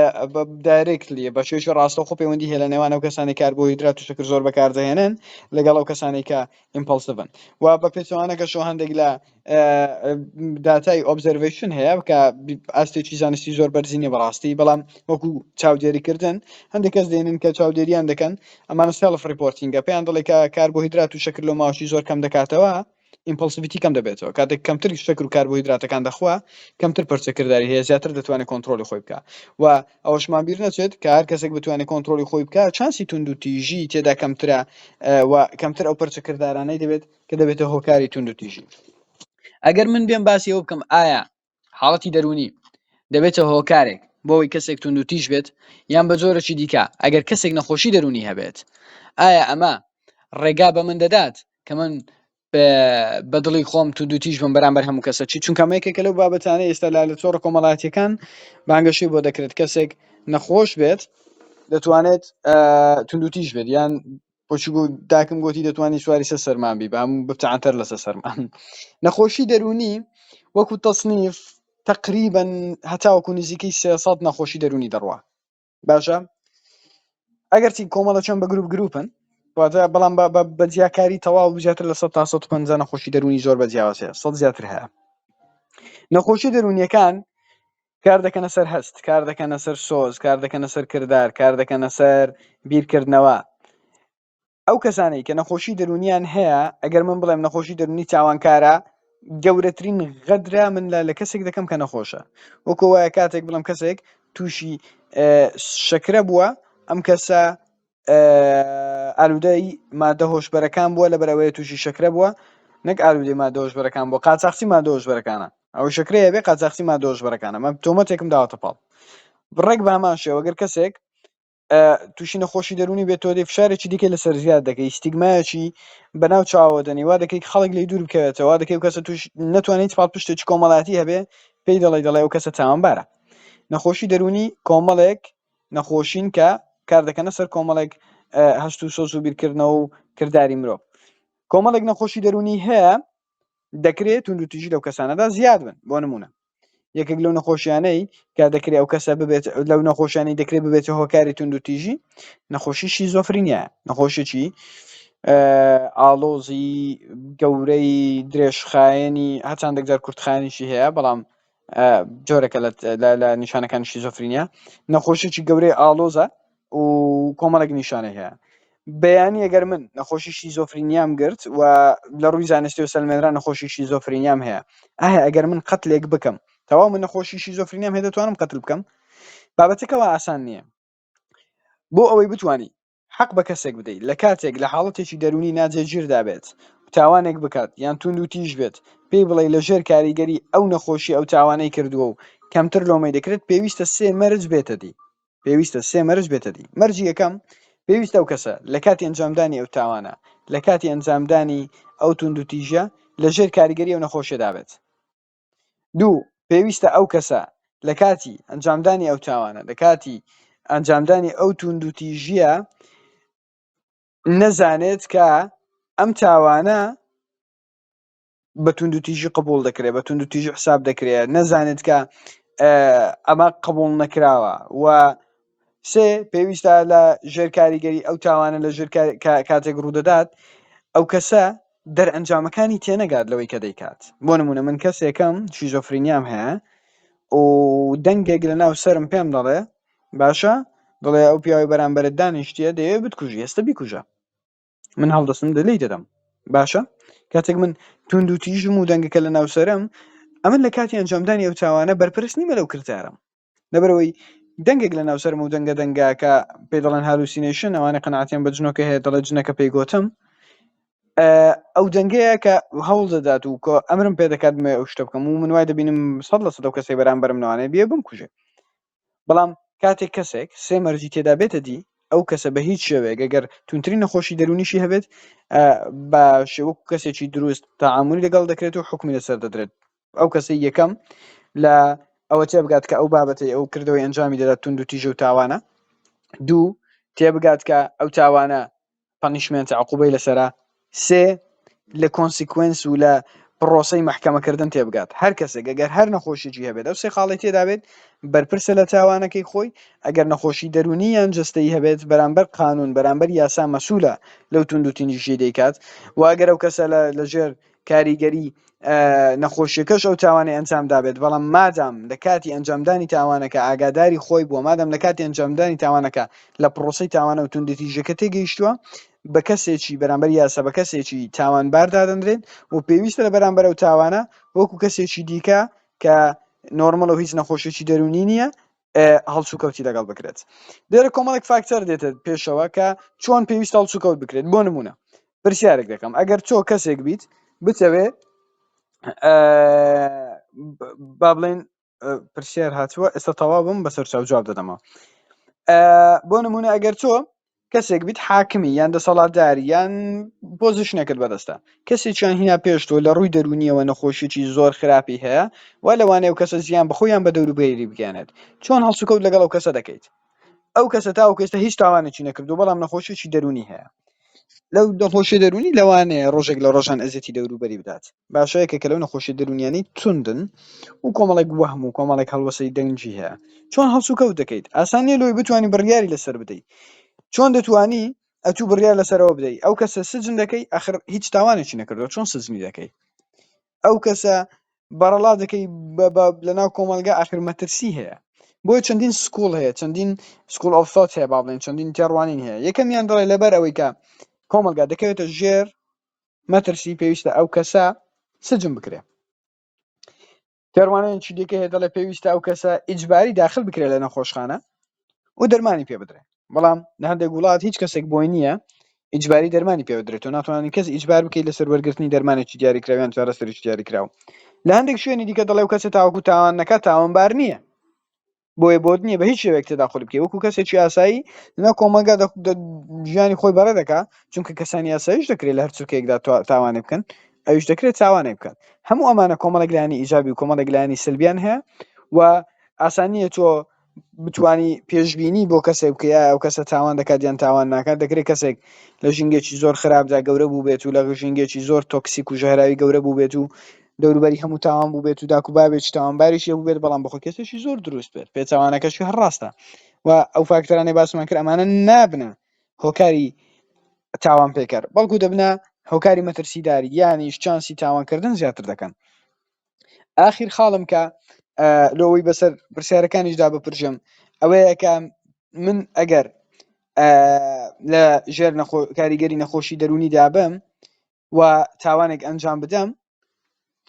دایرێکلی بە شێش ڕاستە خۆ پەیوەندی هێلە نێوان ئەو کەسانی کاربۆهیدرات و شکر زۆر بەکاردەهێنن لەگەڵ ئەو کەسانی کە ئیمپلسڤن و بە پێچوانەکەشەوە هەندێک لە داتای ئۆبزەرڤەیشن هەیە کە ئاستێکی زانستی زۆر بەرزی نیە بەڕاستی بەڵام وەکو چاودێریکردن هەندێک کەس دێنن کە چاودێریان دەکەن ئەمانە سێڵف ڕیپۆرتینگە پێیان دەڵێ کە کاربۆهیدرات و شکر لۆ ماوەی زۆر کەم دەکاتەوە ئیمپلسیڤیتی کەم دەبێتەوە کاتێک کەمتر شکر و کاربۆهیدراتەکان دەخوا کەمتر پرچەکردداری هەیە زیاتر دەتوانێت کۆنتترۆلی خۆی بکە و ئەوەشمان بیر نەچێت کە هەر کەسێک بتوانێت کۆنتترۆلی خۆی بکە چانسی تونند و تیژی تێدا کەمترە و کەمتر ئەو پرچەکرددارانەی دەبێت کە دەبێتە هۆکاری توندوتیژی ئەگەر من بێم باسی ئەوە بکەم ئایا حاڵەتی دەروونی دەبێتە هۆکارێک بۆ ئەوی کەسێک توندوتیژ بێت یان بە جۆرەی دیکە ئەگەر کەسێک نەخۆشی دەروونی هەبێت ئایا ئەمە ڕێگا بە من دەدات کە من بە دڵی خۆم تو دوتیش بم بەرامبەر هەموو کەسە چی چونکە مەیەکێکە لەو بابەتانە ئێستا لا لە چۆڕ کۆمەڵاتیەکان بانگەشی بۆ دەکرێت کەسێک نەخۆش بێت دەتوانێت توندوتیش بێت یان بۆچی گوو داکم گۆتی دەتوانی سواری سە سەرمان بی بام ببتە عەنتەر لەسە سەرمان نەخۆشی دەروونی وەکو تەسنیف تەقریبەن هەتاوەکو نزیکەی سێ سەد نەخۆشی دەروونی دەڕوا باشە ئەگەرچی کۆمەڵە چەند بە گروپ گروپن واتە بەڵام بە بە بە جیاکاری تەواو زیاتر لە 100 تا 150 نەخۆشی دەروونی زۆر بە جیاوازەیە سەد زیاتر هەیە نەخۆشی دەروونیەکان کار دەکەنە سەر هەست، کار دەکەنە سەر سۆز، کار دەکەنە سەر کردار، کار دەکەنە سەر بیرکردنەوە. ئەو کەسانەی کە نەخۆشی دەرونیان هەیە ئەگەر من بڵێم نەخۆشی دەرونی تاوانکارە گەورەترین غەدرە من لە لە کەسێک دەکەم کە نەخۆشە وەکو وایە کاتێک بڵم کەسێک تووشی شەکرە بووە ئەم کەسە ئالوودەی مادە هۆشبەرەکان بووە لەبەر ئەوەیە تووشی شەکرە بووە نەک ئالوودەی مادە هۆشبەرەکان بووە قاچاخچی مادە هۆشبەرەکانە ئەو شەکرەیە بێ قاچاخچی مادە هۆشبەرەکانە مە تۆمەتێکم داوەتە پاڵ بڕێک بە هەمان شێوە گەر کەسێک تووشی نەخۆشی دەرونی بێت تۆ دەی فشارێکی دیکە لەسەر زیاد دەکەی ستیگمایەکی بەناو چاوە دەنی وا دەکەی خەڵک لی دوور بکەوێتەوە دەکەی کەسە توش نتوانیت پاڵ پشتێکی کۆمەڵاتی هەبێ پێی دەڵی دەڵێ و کەسە تاوانبارە نەخۆشی دەرونی کۆمەڵێک نەخۆشین کە کاردەکەنە سەر کۆمەڵێک هەست و سۆز و بیرکردنەوە و کردداری مرۆڤ کۆمەڵێک نەخۆشی دەرونی هەیە دەکرێت تونند و تیژی لەو کەسانەدا زیاد بن بۆ نمونە یەکێک لەو نەخۆشیانەی کە دەکرێت ئەو کەسە ببێت لەو نەخۆشیانی دەکرێت ببێت هۆکاری تونند و تیژی نەخۆشی شیزۆفرینە نەخۆشیی ئاڵۆزی گەورەی درێژخایەنی هەچاندێک جار کورتخانیشی هەیە بەڵام جۆرێکە لە نیشانەکانی شیزۆفرینیا نەخۆشیی گەورەی ئاڵۆزە و کۆمەڵێک نیشانەی هەیە بەیانی ئەگەر من نەخۆشی شیزۆفرینیام گرت و لە ڕووی زانستی و سەلمێنرا نەخۆشی شیزۆفرینیام هەیە ئایا ئەگەر من قەتلێک بکەم تەواو من نەخۆشی شیزۆفرینیام هەیە دەتوانم قەتل بکەم بابەتەکەەوە ئاسان نییە بۆ ئەوەی بتانی حەق بە کەسێک بدەیت لە کاتێک لە حاڵەتێکی دەروونی ناجێگیردا بێت و تاوانێک بکات یان توندوتیژ بێت، پێی بڵێی لە ژێر کاریگەری ئەو نەخۆشییە ئەو تاوانەی کردووە و کەمتر لۆمەی دەکرێت، پێویستە سێ مەرج بێتە دی. پێویستە سێ مەرج بێتە دی. مەرجی یەکەم، پێویستە ئەو کەسە لە کاتی ئەنجامدانی ئەو تاوانە، لە کاتی ئەنجامدانی ئەو توندوتیژیە، لە ژێر کاریگەری ئەو نەخۆشیەدا بێت. دوو پێویستە ئەو کەسە لە کاتی ئەنجامدانی ئەو تاوانە لە کاتی ئەنجامدانی ئەو توندوتیژیە نەزانێت کە ئەم تاوانە بە توندوتیژی قبول دەکرێت بە توندوتیژی حساب دەکرێت نەزانێت کە ئەمە قبول نەکراوە و سێ، پێویستە لە ژێر کاریگەری ئەو تاوانە لە ژێر کاتێک ڕوودەدات ئەو کەسە دەرئەنجامەکانی تێنەگات لەوەی کە دەیکات بۆ نمونە من کەسێکم شیزۆفرینیام هەیە و دەنگێک لە ناو سرم پێم دەڵێ باشە دڵێ ئەو پیاوی بەرامبەرت دانیشتە دەیەوێت بتکوژی ئێستا بیکوژە من هەڵدەستم لێی دەدەم باشە کاتێک من توند و تیژم و دەنگەکە لە ناوسرم ئەمن لە کاتی ئەنجامدانی ئەو تاوانە بەرپرس نیمە لەو کردارم لەبەرەوەی دەنگێک لە ناو سەرم و دەنگە دەنگاکە پێ دەڵێن هەلوسینەیشن ئەوانە قەنەعەتیان بە جنۆکە هەیە دەڵێ جنەکە پێی گۆتم ئەو دەنگەیە کە هەوڵ دەدات و کۆ ئەمرم پێ دەکات مێ ئەو شتە بکەم و من وای دەبینم سەد لە سەدە کەسی بەرامبەرم نوانێ بێ بم کوژێ بەڵام کاتێک کەسێک سێ مەرجی تێدا بێتە دی ئەو کەسە بە هیچ شێوەیە گەگەر تونترین نەخۆشی دەرونیشی هەبێت بە شێوەک کەسێکی دروست تاعاعملی لەگەڵ دەکرێت و حکومی لەسەر دەدرێت ئەو کەسی یەکەم لە ئەوە تێ بگات کە ئەو بابەتی ئەو کردەوەی ئەنجامی دەدات تونند و تیژە و تاوانە دوو تێ بگات کە ئەو تاوانە پەنیشمێنتە عقوبەی لەسەرە سێ لە کۆنسیکوێنس و لە پڕۆسەی مەحکەمەکردن تێبگات هەر کەسێک گەگەر هەر نەخۆشیی هەبێت ئەو سێ خاڵی تێدابێت بەرپرسە لە تاوانەکەی خۆی ئەگەر نەخۆشی دەرونی یان جەستەی هەبێت بەرامبەر قانون بەرامبەر یاسا مەسولە لەو توندوتیژی دەیکات و ئەگەر ئەو کەسە لە لەژێر کاریگەری نەخۆشیەکەش ئەو تاوانەی ئەنجام دابێت بەڵام مادام لە کاتی ئەنجامدانی تاوانەکە ئاگاداری خۆی بووە مادەم لە کاتی ئەنجامدانی تاوانەکە لە پرۆسی تاوانە و توندتیژەکە تێگەیشتووە بە کەسێکی بەرامبەر یاسا بە کەسێکی تاوان باردادەنرێن و پێویستە لە بەرامبەر و تاوانە وەکو کەسێکی دیکە کە نۆرمەڵ و هیچ نەخۆشیی دەرونی نییە هەڵسوکەوتی لەگەڵ بکرێت دێرە کۆمەڵێک فاکتەر دێتە پێشەوە کە چۆن پێویست هەڵسوکەوت بکرێت بۆ نمونە پرسیارێک دەکەم ئەگەر تۆ کەسێک بیت بتەوێ با بڵێن پرسیار هاتووە ئێستا تەوا بم بەسەر چاو جواب دەدەمەوە بۆ نمونە ئەگەر تۆ کەسێک بیت حاکمی یان دەسەڵاتداری یان پۆزیشنێکت بەدەستە کەسێکیان هینا پێش تۆ لە ڕووی دەرونیەوە نەخۆشیی زۆر خراپی هەیە وا لەوانەیە و کەسە زیان بەخۆی یان بە دەوروبەری بگەیەنێت چۆن هەڵسوکەوت لەگەڵ ئەو کەسە دەکەیت ئەو کەسە تاوەکو ئێستا هیچ تاوانێکی نەکردو بەڵام نەخۆشیی دەرونی هەیە لەو نەخۆشیە دەرونی لەوانەیە ڕۆژێک لە ڕۆژان ئەزیەتی دەوروبەری بدات باشە یەکێکە لەو نەخۆشیە دەرونیانەی توندن و کۆمەڵێک وەهم و کۆمەڵێک هەڵوەسەی دەنگی هەیە چۆن هەڵسو کەوت دەکەیت ئاسان نیە لۆی بتوانی بڕیاری لەسەر بدەی چۆن دەتوانی ئەتوو بڕیار لەسەرەوە بدەی ئەو کەسە سجن دەکەی ئەخر هیچ تاوانێکی نەکردوە چۆن سجنی دەکەی ئەو کەسە بەڕەڵا دەکەی بە لەناو کۆمەلگا ئاخر مەترسی هەیە بۆیە چەندین سکوڵ هەیە چەندین سکوڵ ئەو سات هەیە با بڵێن چەندین تێڕوانین هەیە یەکەمیان دەڵێ لەبەر ئەوەی کە کۆمەلگا دەکەوێتە ژێر مەترسی پێویستە ئەو کەسە سجن بکرێ تێڕوانین چی دیکە هەیە دەڵێ پێویستە ئەو کەسە ئیجباری داخل بکرێت لە نەخۆشخانە و دەرمانی پێ بدرێت بەڵام لە هەندێک وڵات هیچ کەسێک بۆی نییە ئیجباری دەرمانی پێ بدرێت و ناتوانانی کەس ئیجبار بکەیت لەسەر وەرگرتنی دەرمانێکی دیاریکراویان چارەسەریش دیاریکراوە لە هەندێک شوێنی دیکە دەڵێ و کەسە تاوەکو تاوان نەکە تاوانبار نییە بۆیە بۆت نییە بە هیچ شێوەیەک تێداخل بکەی وەکو کەسێکی ئاسایی لە کۆمەلگا ژیانی خۆی بەڕێ دەکا چونکە کەسانی ئاسایش دەکرێت لە هەرچکەیەکدا تاوانێ بکەن ئەوش دەکرێت تاوانێ بکات هەموو ئەمانە کۆمەڵێک لایانی ئیجابی و کۆمەڵێک لایانی سلبیان هەیە و ئاسانیە تۆ بتانی پێشببینی بۆ کەسێک بکەیە ئەو کەسە تاوان دەکات یان تاوان ناکات دەکرێت کەسێک لە ژینگەێکی زۆر خراپدا گەورە بوو بێت و لە ژینگەێکی زۆر تۆکسیک و ژەهراوی گەورە بوو بێت و دەوروبەری هەموو تاوان بووبێت و داک و بابێکی تاوانباریش هەبووبێت، بەڵام بەخۆ کەسێکی زۆر دروست بێت، پێچەوانەکەشی هەر ڕاستە و ئەو فاکتەرانەی باسمان کرد ئەمانە نابنە هۆکاری تاوانپێکەر، بەڵکو دەبنە هۆکاری مەترسیدار، یانیش چانسی تاوانکردن زیاتر دەکەن. ئاخیر خاڵم کە لۆ ئەوەی بەسەر پرسیارەکانیشدا بپرژم ئەوەیە کە من ئەگەر لە ژێر کاریگەری نەخۆشی دەرونی دابم و تاوانێک ئەنجام بدەم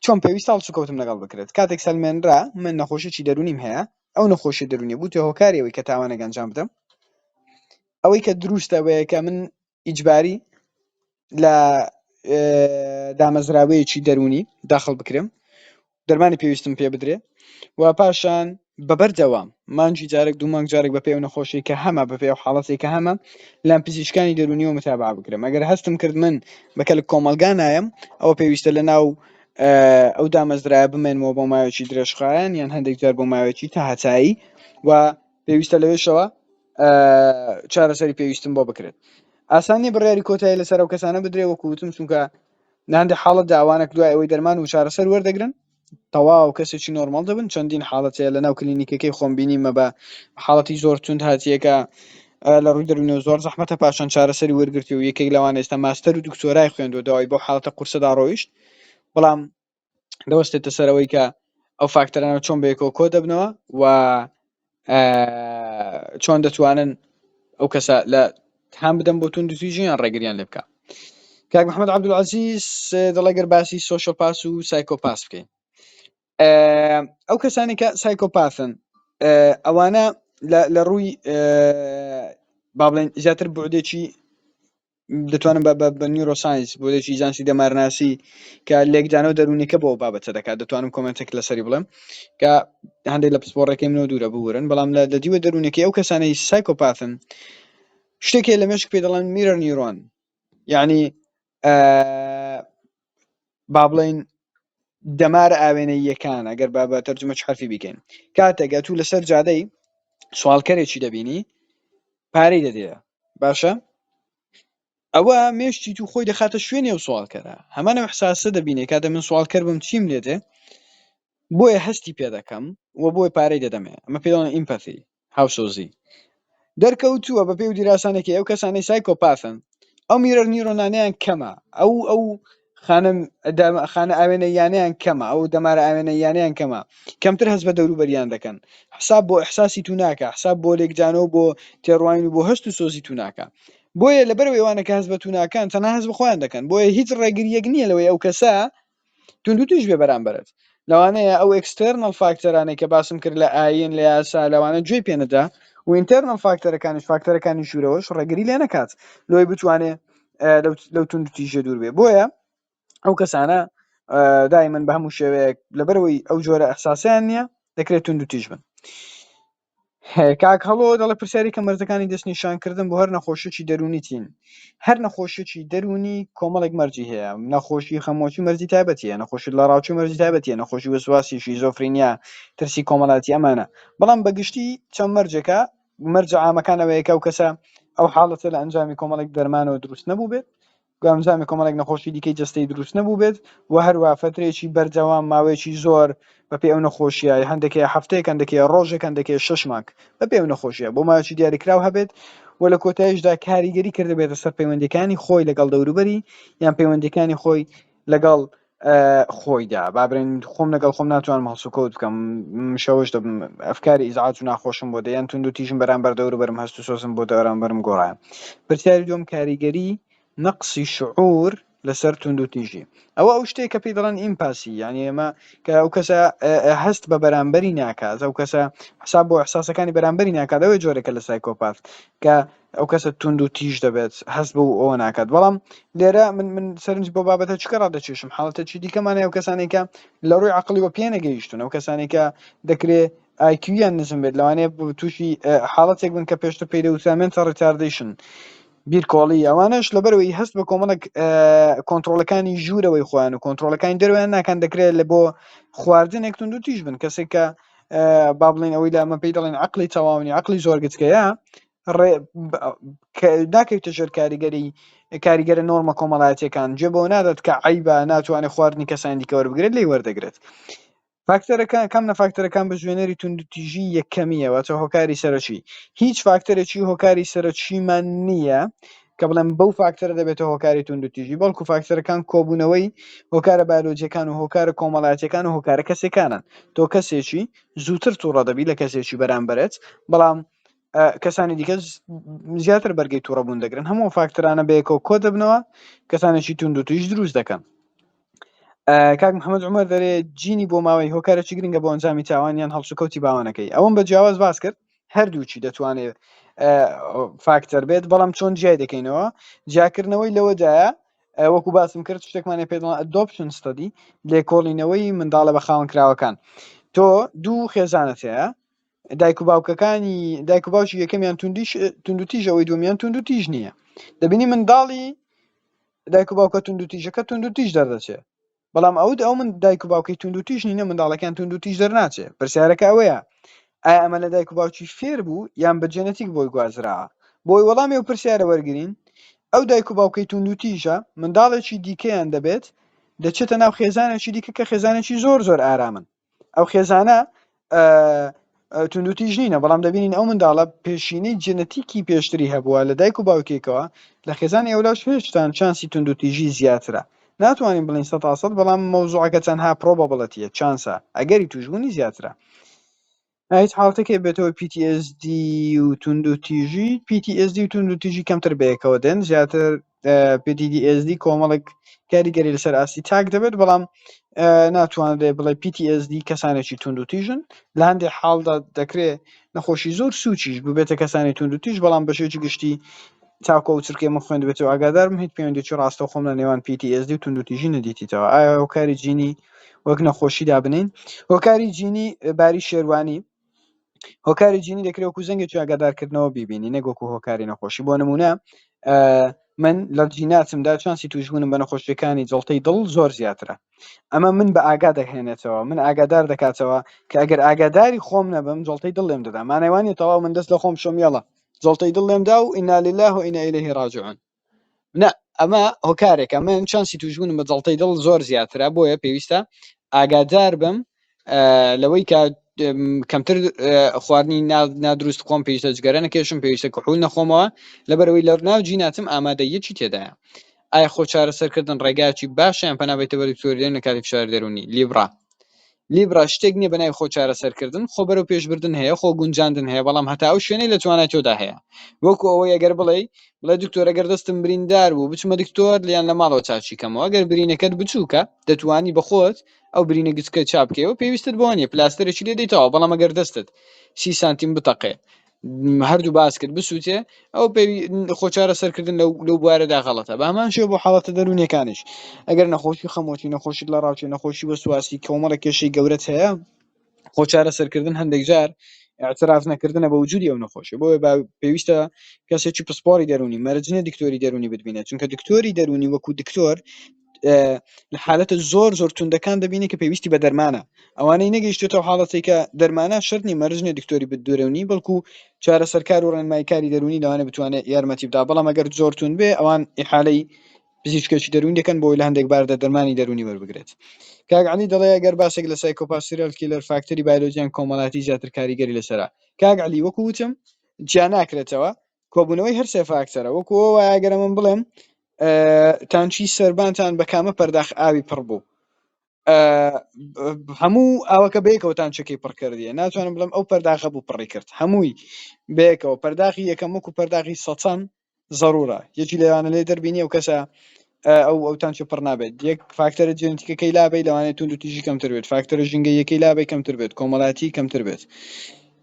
چۆن پێویست هەڵسوکەوتم لەگەڵ بکرێت کاتێک سەلمێنرا من نەخۆشیی دەرونیم هەیە ئەو نەخۆشی دەرونی بوو تێ هۆکاریەوەی کە تاوانێک ئەنجام بدەم ئەوەی کە دروستە وەیە کە من ئیجباری لە دامەزراوەیەکی دەرونی داخل بکرێم دەرمانی پێویستم پێ بدرێ و پاشان بەبەر دەوام مانجی جارێک دوو مانگ جارێک بە پێو نەخۆشی کە هەمە بە پێ حاڵەتی کە هەمە لام پزیشکانی دەرونیەوە متابع بکرم ئەگەر هەستم کرد من بەکەلک کۆمەلگا نایم ئەوە پێویستە لە ناو ئەو دامەزرایە بمێنمەوە بۆ ماوێکی درێژخایەن یان هەندێک جار بۆ ماوێکی تا هەتایی و پێویستە لەوێشەوە چارەسەری پێویستم بۆ بکرێت ئاسانی بڕیاری کۆتایی لەسەر ئەو کەسانە بدرێ وەکوتم چونکە لە هەندێک حاڵەتدا ئەوانەک دوای ئەوەی دەرمان وچارەسەر وەردەگرن تەواو کەسێکی نۆرماڵ دەبن، چەندین حاڵەت هەیە لەناو کلینیکەکەی خۆم بینیمە بە حاڵەتی زۆر توند هاتیە کە لە ڕووی دەروونەوە زۆر زەحمەتە پاشان چارەسەری وەرگرتووە و یەکێک لەوانە ئێستا ماستەر و دکتۆرای خوێندووە دوای بەو حاڵەتە قورسەدا ڕۆیشت بەڵام دەوەستێتە سەرەوەی کە ئەو فاکتەرانە چۆن بەیەکەوە کۆدەبنەوە و چۆن دەتوانن ئەو کەسە لە تام بدەم بۆ تون دزی ژیان ڕێگریان لێ بکە کاک محمد عبدولعزیز دەڵێگەر باسی سوۆشە پاس و سایکۆپاس بکەین ئەو کەسانی کە سایکۆپاسن ئەوانە لە ڕووی با بڵێن زیاتر بودێکی دەتوانم بە بە نیورۆساینس بۆلێکی زانستی دەمارناسی کە لێکدانەوە دەروونەکە بۆ بابەتە دەکات دەتوانم کۆمنتێک لەسەری بڵێم کە هەندێک لە پسپۆڕەکەی منەوە دوورە بورن بەڵام لە دەدیوە دەروونەکەی ئەو کەسانەی سایکۆپاتن شتێکێ لە مێشک پێ دەڵێن میرەر نیرۆن یعنی بابڵێین دەمارە ئاوێنەییەکان ئەگەر با بە تەرجمە چ حرفی بیکەین کاتێک ئەتوو لەسەر جادەی سوالکەرێکی دەبینی پارەی دەدەیە باشە ئەوە مێشتی تو خۆی دەخاتە شوێنێ و سوالکەرە هەمانە حساسە دەبینێ کاتە من سوالکەر بم چیم لێتێ بۆیە هەستی پێ دەکەم و بۆی پارەی دەدەمێ ئەمە پێڵەن ئیمپەتی هاوسۆزی دەرکەوتووە بە پێی و دیراسانەکەی ئەو کەسانەی سایکۆپاسن ئەو میرەر نیرۆنانیان کەمە ئەو ئەو خانە خانە ئاوێنە یانیان کەمە ئەو دەمارە ئاوێنە یانیان کەمە کەمتر هەست بە دەوروبەریان دەکەن حساب بۆ احساسی تو ناکە حساب بۆ لێکجانەوە بۆ تێڕوانین و بۆ هەست و سۆزی تو ناکە بۆیە لەبەر ئێوانەکە هەست بە تو ناکەن تەنها هەست بە خۆیان دەکەن بۆیە هیچ ڕێگریەک نییە لەوەی ئەو کەسە توندوتیژ بێ بەرامبەرت لەوانەیە ئەو ئێکستێرنەڵ فاکتەرانەی کە باسم کرد لە ئایین لە یاسا لەوانە گوێی پێ نەدا و ئینتێرنەڵ فاکتەرەکانیش فاکتەرەکانی ژوورەوەش ڕێگری لێ نەکات لۆی بتوانێ لەو توندوتیژە دوور بێ بۆیە ئەو کەسانە دایمن بە هەموو شێوەیەک لەبەرەوەی ئەو جۆرە ئەحساسیان نییە دەکرێت توندوتیژ بن کاک هەڵۆ دەڵێ پرسیارێکە مەرجەکانی دەستنیشانکردن بۆ هەر نەخۆشیی دەروونی چین؟ هەر نەخۆشیی دەروونی کۆمەڵێک مەرجی هەیە، نەخۆشی خەمۆکی مەرجی تایبەتی هەیە، نەخۆشی لەڕاوچوو مەرجی تایبەتی هەیە، نەخۆشی وەسواسی، شیزۆفرینیا، ترسی کۆمەڵایەتی ئەمانە. بەڵام بە گشتی چەند مەرجێکە، مەرجە عامەکان ئەوەیە کە ئەو کەسە ئەو حاڵەتە لە ئەنجامی کۆمەڵێک دەرمانەوە دروست نەبووبێت، گەمژانە کۆمەڵێک نەخۆشی دیکەی جەستەی دروست نەبووبێت و هەروە فەترەیەکی بەردەوام ماوەیەکی زۆر بەپێ ئەو نەخۆشیە هەندێکی هەفتەیەک هەندێکی ڕۆژێک هەندێکی شەش مانگ بەپێ ئەو نەخۆشیە بۆ ماوەیەکی دیاریکراو هەبێت و لە کۆتاییشدا کاریگەری کردبێتە سەر پەیوەندیەکانی خۆی لەگەڵ دەوروبەری یان پەیوەندیەکانی خۆی لەگەڵ خۆیدا بابرێن خۆم لەگەڵ خۆم ناتوانم هەڵسوکەوت بکەم شەوش دەبم ئەفکاری ئیزعاج و ناخۆشم بۆ دەیان تونند و تیژم بەرامبەر دەور بەرم هەست و سۆزم بۆ دەرامبەرم گۆڕایان پرسیاری دوم کاریگەری نەقسی شعور لەسەر تونند و تیژی ئەوە ئەو شتێک کە پێی دەڵێن ئیمپاسی یعنی ئێمە کە ئەو کەسە هەست بە بەرامبەری ناکات ئەو کەسە حساب بۆ احساسەکانی بەرامبەری ناکات ئەوەی جۆرێکە لە سایکۆپات کە ئەو کەسە توند و تیژ دەبێت هەست بۆ ئەوە ناکات بەڵام لێرە من من سەرنج بۆ بابەتە چکە ڕادەکێشم حاڵەتە چی دیکەمانە ئەو کەسانێکە لە ڕووی عقلیەوە پێ نەگەیشتون ئەو کەسانێکە دەکرێ ئایکویان نزم بێت لەوانەیە تووشی حاڵەتێک بن کە پێشتر پێی دەوترامێنتە ڕتاردیشن بیرکۆڵی ئەوانش لەبەرەوەی هەست بە کۆمەڵک کۆنتترۆلەکانی ژوورەوەی خۆیان و کۆنتترۆلەکانی دەرویان ناکەن دەکرێت لە بۆ خواردنێک تونند و تیژ بن کەسێک کە با بڵین ئەوەی لە ئەمە پێی دەڵێن عقلی تەواونی عقلی زۆرگتکەیە ناکەویتە ژێر کاریگەری کاریگەرە نۆرمە کۆمەڵایەتەکان جێ بۆ نادات کە عیبا ناتوانێ خواردنی کەسانی دیکە وەربگرێت لی وەردەگرێت فاکتەرەکان کەم نە فاکتەرەکان بە ژێنەری توندتیژی یەکەمیەوە چە هۆکاری سەرەکی هیچ فاکتەرێکی هۆکاری سەرەکیمان نییە کە بڵێم بەو فاکتەرە دەبێتە هۆکاری توندتیژی بەڵکو فاکتەرەکان کۆبوونەوەی هۆکارە بایلۆجیەکان و هۆکارە کۆمەڵاتەکان و هۆکارە کەسەکانن تۆ کەسێکی زووتر تووڕە دەبی لە کەسێکی بەرامبەرت بەڵام کەسانی دیکە زیاتر بەرگی تووڕەبوون دەگرن هەموو فاکترانە بەیەکەوە کۆ دەبنەوە کەسانێکی تونند و تویش دروست دەکەن کاک محەممەد عمر دەرێ جینی بۆ ماوەی هۆکارێکی گرنگە بۆ ئەنجامی تاوانیان هەڵسوکەوتی باوانەکەی ئەوم بە جیاواز باس کرد هەردووچی دەتوانێت فاکتەر بێت بەڵام چۆن جیای دەکەینەوە جیاکردنەوەی لەوەدایە وەکو باسم کرد شتێکمانە پێ دۆپشن ستدی لێکۆڵینەوەی منداڵە بە خاوەن کراوەکان تۆ دوو خێزانەتەیە دایک و باوکەکانی دایک و باوکی یەکەمیان توندیش توندوتیژ ئەوەی دومیان توندوتیژ نییە دەبینی منداڵی دایک و باوکە توندوتیژەکە توندوتیژ دەردەچێت بەڵام ئەوت ئەو من دایک و باوکی توندوتیژ نینە منداڵەکان توندوتیژ دەرناچێت پرسیارەکە ئەوەیە ئایا ئەمە لە دایک و باوکی فێر بوو یان بە جێنەتیک بۆی گوازرا بۆی وەڵامی و پرسیارە وەرگین ئەو دایک و باوکەی توندوتیژە منداڵێکی دیکەیان دەبێت دەچێتە ناو خێزانێکی دیکە کە خێزانێکی زۆر زۆر ئارامن ئەو خێزانە توندوتیژ نینە بەڵام دەبینین ئەو منداڵە پێشینەی جنەتیکی پێشتری هەبووە لە دایک و باوکێکەوە لە خێزان ئێولاش هێشتان چانسی توندوتیژی زیاترە ناتوانین بڵین سە تاسەد بەڵام مەوزوعەکە چەندها پرۆبەبڵەتیە چانسە ئەگەری توشببوونی زیاترە ئەیت حاڵتەکەی بێتەوە PTSD و توندوتیژی PTSD و توندوتیژی کەمتر بەیەکەوە دێن زیاتر اه، PTSD کۆمەڵێک کاریگەری لەسەر ئاستی تاک دەبێت بەڵام اه، ناتوانرێ بڵێ PTSD کەسانێکی توندوتیژن لە هەندێک حاڵدا دەکرێ نەخۆشی زۆر سوچیش ببێتە کەسانی توندوتیژ بەڵام بەشێکی گشتی تاکو ئەو چرکەی من خوێندبێتەوە ئاگادار بم هیچ پەیوەندیی ڕاستەوخۆم لە نێوان PTSD و توندوتیژی نەدیتیتەوە ئایا هۆکاری جینی وەک نەخۆشی دابنێین هۆکاری جینی باری شێروانی هۆکاری جینی دەکرێت وەکو زەنگێکی ئاگادارکردنەوە بیبینی نەک وەکو هۆکاری نەخۆشی بۆ نمونە من لە جیناتمدا چانسی توشبوونم بە نەخۆشیەکانی جڵتەی دڵ زۆر زیاترە ئەمە من بە ئاگا دەهێنێتەوە من ئاگادار دەکاتەوە کە ئەگەر ئاگاداری خۆم نەبم جڵتەی دڵێم دەدامانەوانی تەواو من دەست لە خۆم شۆمیێڵە جەڵتەی دڵ لێم دا و ئینا للە و ئینا ئیلەیه ڕاجعون نا ئەمە هۆکارێکە من چانسی تووشبوونم بە جەڵتەی دڵ زۆر زیاترە بۆیە پێویستە ئاگادار بم لەوەی کە کەمتر خواردنی نادروست خۆم پێویستە جگەرە نەکێشم پێویستە کەحول نەخۆمەوە لەبەرەوەی لە ناو جیناتم ئامادە یەکی تێدایە ئایا خۆ چارەسەرکردن ڕێگایەکی باشە یان پەنا بە تەوەریکتۆریدەین لە کاتی فشاری دەروونی؟ لیبرا Libra شتێک نییە بە ناوی خۆ چارەسەرکردن، خۆ بەرەو پێشبردن هەیە، خۆ گونجاندن هەیە، بەڵام هەتا ئەو شوێنەی لە توانای تۆدا هەیە. وەکو ئەوەی ئەگەر بڵێی، بڵێ دکتۆر ئەگەر دەستم بریندار بوو، بچمە دکتۆر یان لە ماڵەوە چاکی کەمەوە؟ ئەگەر برینەکەت بچووکە، دەتوانی بە خۆت ئەو برینە گچکە چا بکەیەوە، پێویستت بەوە نییە، پلاستەرێکی لێ دەیتەوە، بەڵام ئەگەر دەستت سی سانتیم بتەقێ، هەردوو باس کرد بسووتێ ئەو پێ خۆ چارە سەرکردن لەو لەو بوارەدا غەڵەتە بە هەمان شێ بۆ حاڵەتە دەروونەکانیش ئەگەر نەخۆشی خەمۆکی نەخۆشی لە ڕاوچی نەخۆشی وەسواسی کۆمەڵە کێشەی گەورەت هەیە خۆ چارە سەرکردن هەندێک جار اعتراف نەکردنە بە وجودی ئەو نەخۆشی بۆیە با پێویستە کەسێکی پسپۆری دەرونی مەرجنە دکتۆری دەرونی ببینێت چونکە دکتۆری دەرونی وەکو دکتۆر لە حالەتە زۆر زۆر توندەکان دەبینی کە پێویستی بە دەرمانە ئەوانەی نەگەیشتێتەوە حاڵەتی کە دەرمانە شەرنی مەرجنە دکتۆری بدورەونی بەڵکو چارەسەرکار و ڕێنمایکاری دەرونی لەوانە بتوانێت یارمەتی بدا بەڵام ئەگەر زۆر تون بێ ئەوان ئحالەی پزیشکێکی دەرونی دەکەن بۆی لە هەندێک باردە دەرمانی دەرونی وەربگرێت کاگعلی دەڵێ گەر باسێک لە سایکۆپاسیرل کیلەر فاکتەری بایلۆجیان کۆمەڵاتی زیاتر کاریگەری لەسرە کاگعلی وەکو وتم جیا ناکرێتەوە کۆبوونەوەی هەر سێ فاکتەرە وەکووە وایەگەرە من بڵێم تانچی سربانتان بە کامە پەرداخ ئاوی پڕ بوو هەموو ئاوەکە بەیەکەوە تانچەکەی پڕکردە ناتوانم بڵم ئەو پەرداخە بوو پڕی کرد هەمووی بەیەکەوە پەرداخی یەکەم وەکو پەرداخی سەچەم ضرورە یەکی لەوانە لێ دەربینی و کەسە ئەو ئەو تانچە پڕ نابێت یەک فاکتەرە جێنتیکەکەی لابی لەوانێت تونند و تیژی کەمتر بێت فاکتەرە ژنگەیەکەی لابی کەمتر بێت کۆمەڵاتی کەمتر بێت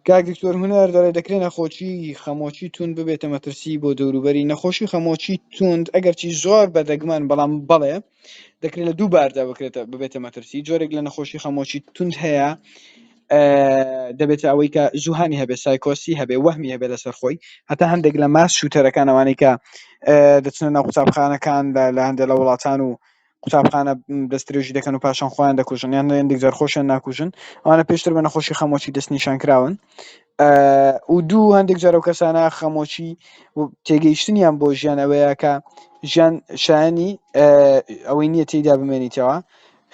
کاک دکتۆر هونەر دەڵێ دەکرێت نەخۆشی خەمۆکی تون ببێتە مەترسی بۆ دەوروبەری نەخۆشی خەمۆکی توند ئەگەرچی زۆر بەدەگمەن بەڵام بەڵێ دەکرێت لە دوو باردا بکرێتە ببێتە مەترسی جۆرێک لە نەخۆشی خەمۆکی تونند هەیە دەبێتە ئەوەی کە زوهانی هەبێ سایکۆسی هەبێ وەهمی هەبێ لەسەر خۆی هەتا هەندێک لە ماس شوتەرەکان ئەوانەی کە دەچنە ناو قوتابخانەکان لە هەندێک لە وڵاتان و قوتابخانە دەستێژی دەکەن و پاشان خۆیان دەکوژن یان هەندێک جار خۆشیان ناکوژن ئەوانە پێشتر بە نەخۆشی خەمۆچی دەست نیشان کراون و دوو هەندێک جار و کەسانە خەمۆچی تێگەیشتنیان بۆ ژیان ئەوەیە کە ژیان شایانی ئەوەی نییە تێیدا بمێنیتەوە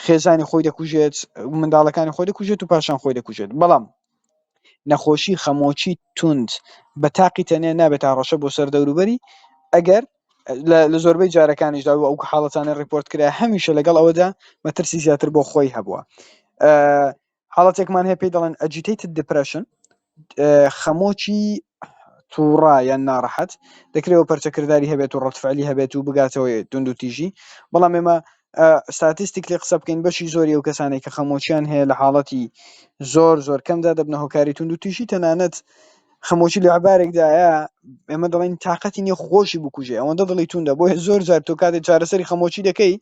خێزانی خۆی دەکوژێت منداڵەکانی خۆی دەکوژێت و پاشان خۆی دەکوژێت بەڵام نەخۆشی خەمۆکی توند بە تاقی تەنێ نابێت تا ڕەشە بۆ سەر دەوروبەری ئەگەر لە زۆربەی جارەکانیشدا و ئەو حاڵەتانە ڕیپۆرت کرا هەمیشە لەگەڵ ئەوەدا مەترسی زیاتر بۆ خۆی هەبووە حاڵەتێکمان هەیە پێی دەڵێن ئەجیتەیتد دیپرەشن خەمۆکی تووڕا یان ناڕەحەت دەکرێەوە پەرچەکردداری هەبێت و ڕەتفعلی هەبێت و بگاتەوە دونند و تیژی بەڵام ئێمە ستاتیستیک لێ قسە بکەین بەشی زۆری و کەسانێک کە خەمۆچیان هەیە لە حاڵەتی زۆر زۆر کەمدا دەبنە هۆکاری تونند و تیژی تەنانەت خەمۆکی لە عەبارێکدایە ئێمە دەڵێین تااقەتی نیە خۆشی بکوژێ ئەوەندە دڵی توندە بۆیە زۆر جار تۆ کاتێ چارەسەری خەمۆکی دەکەی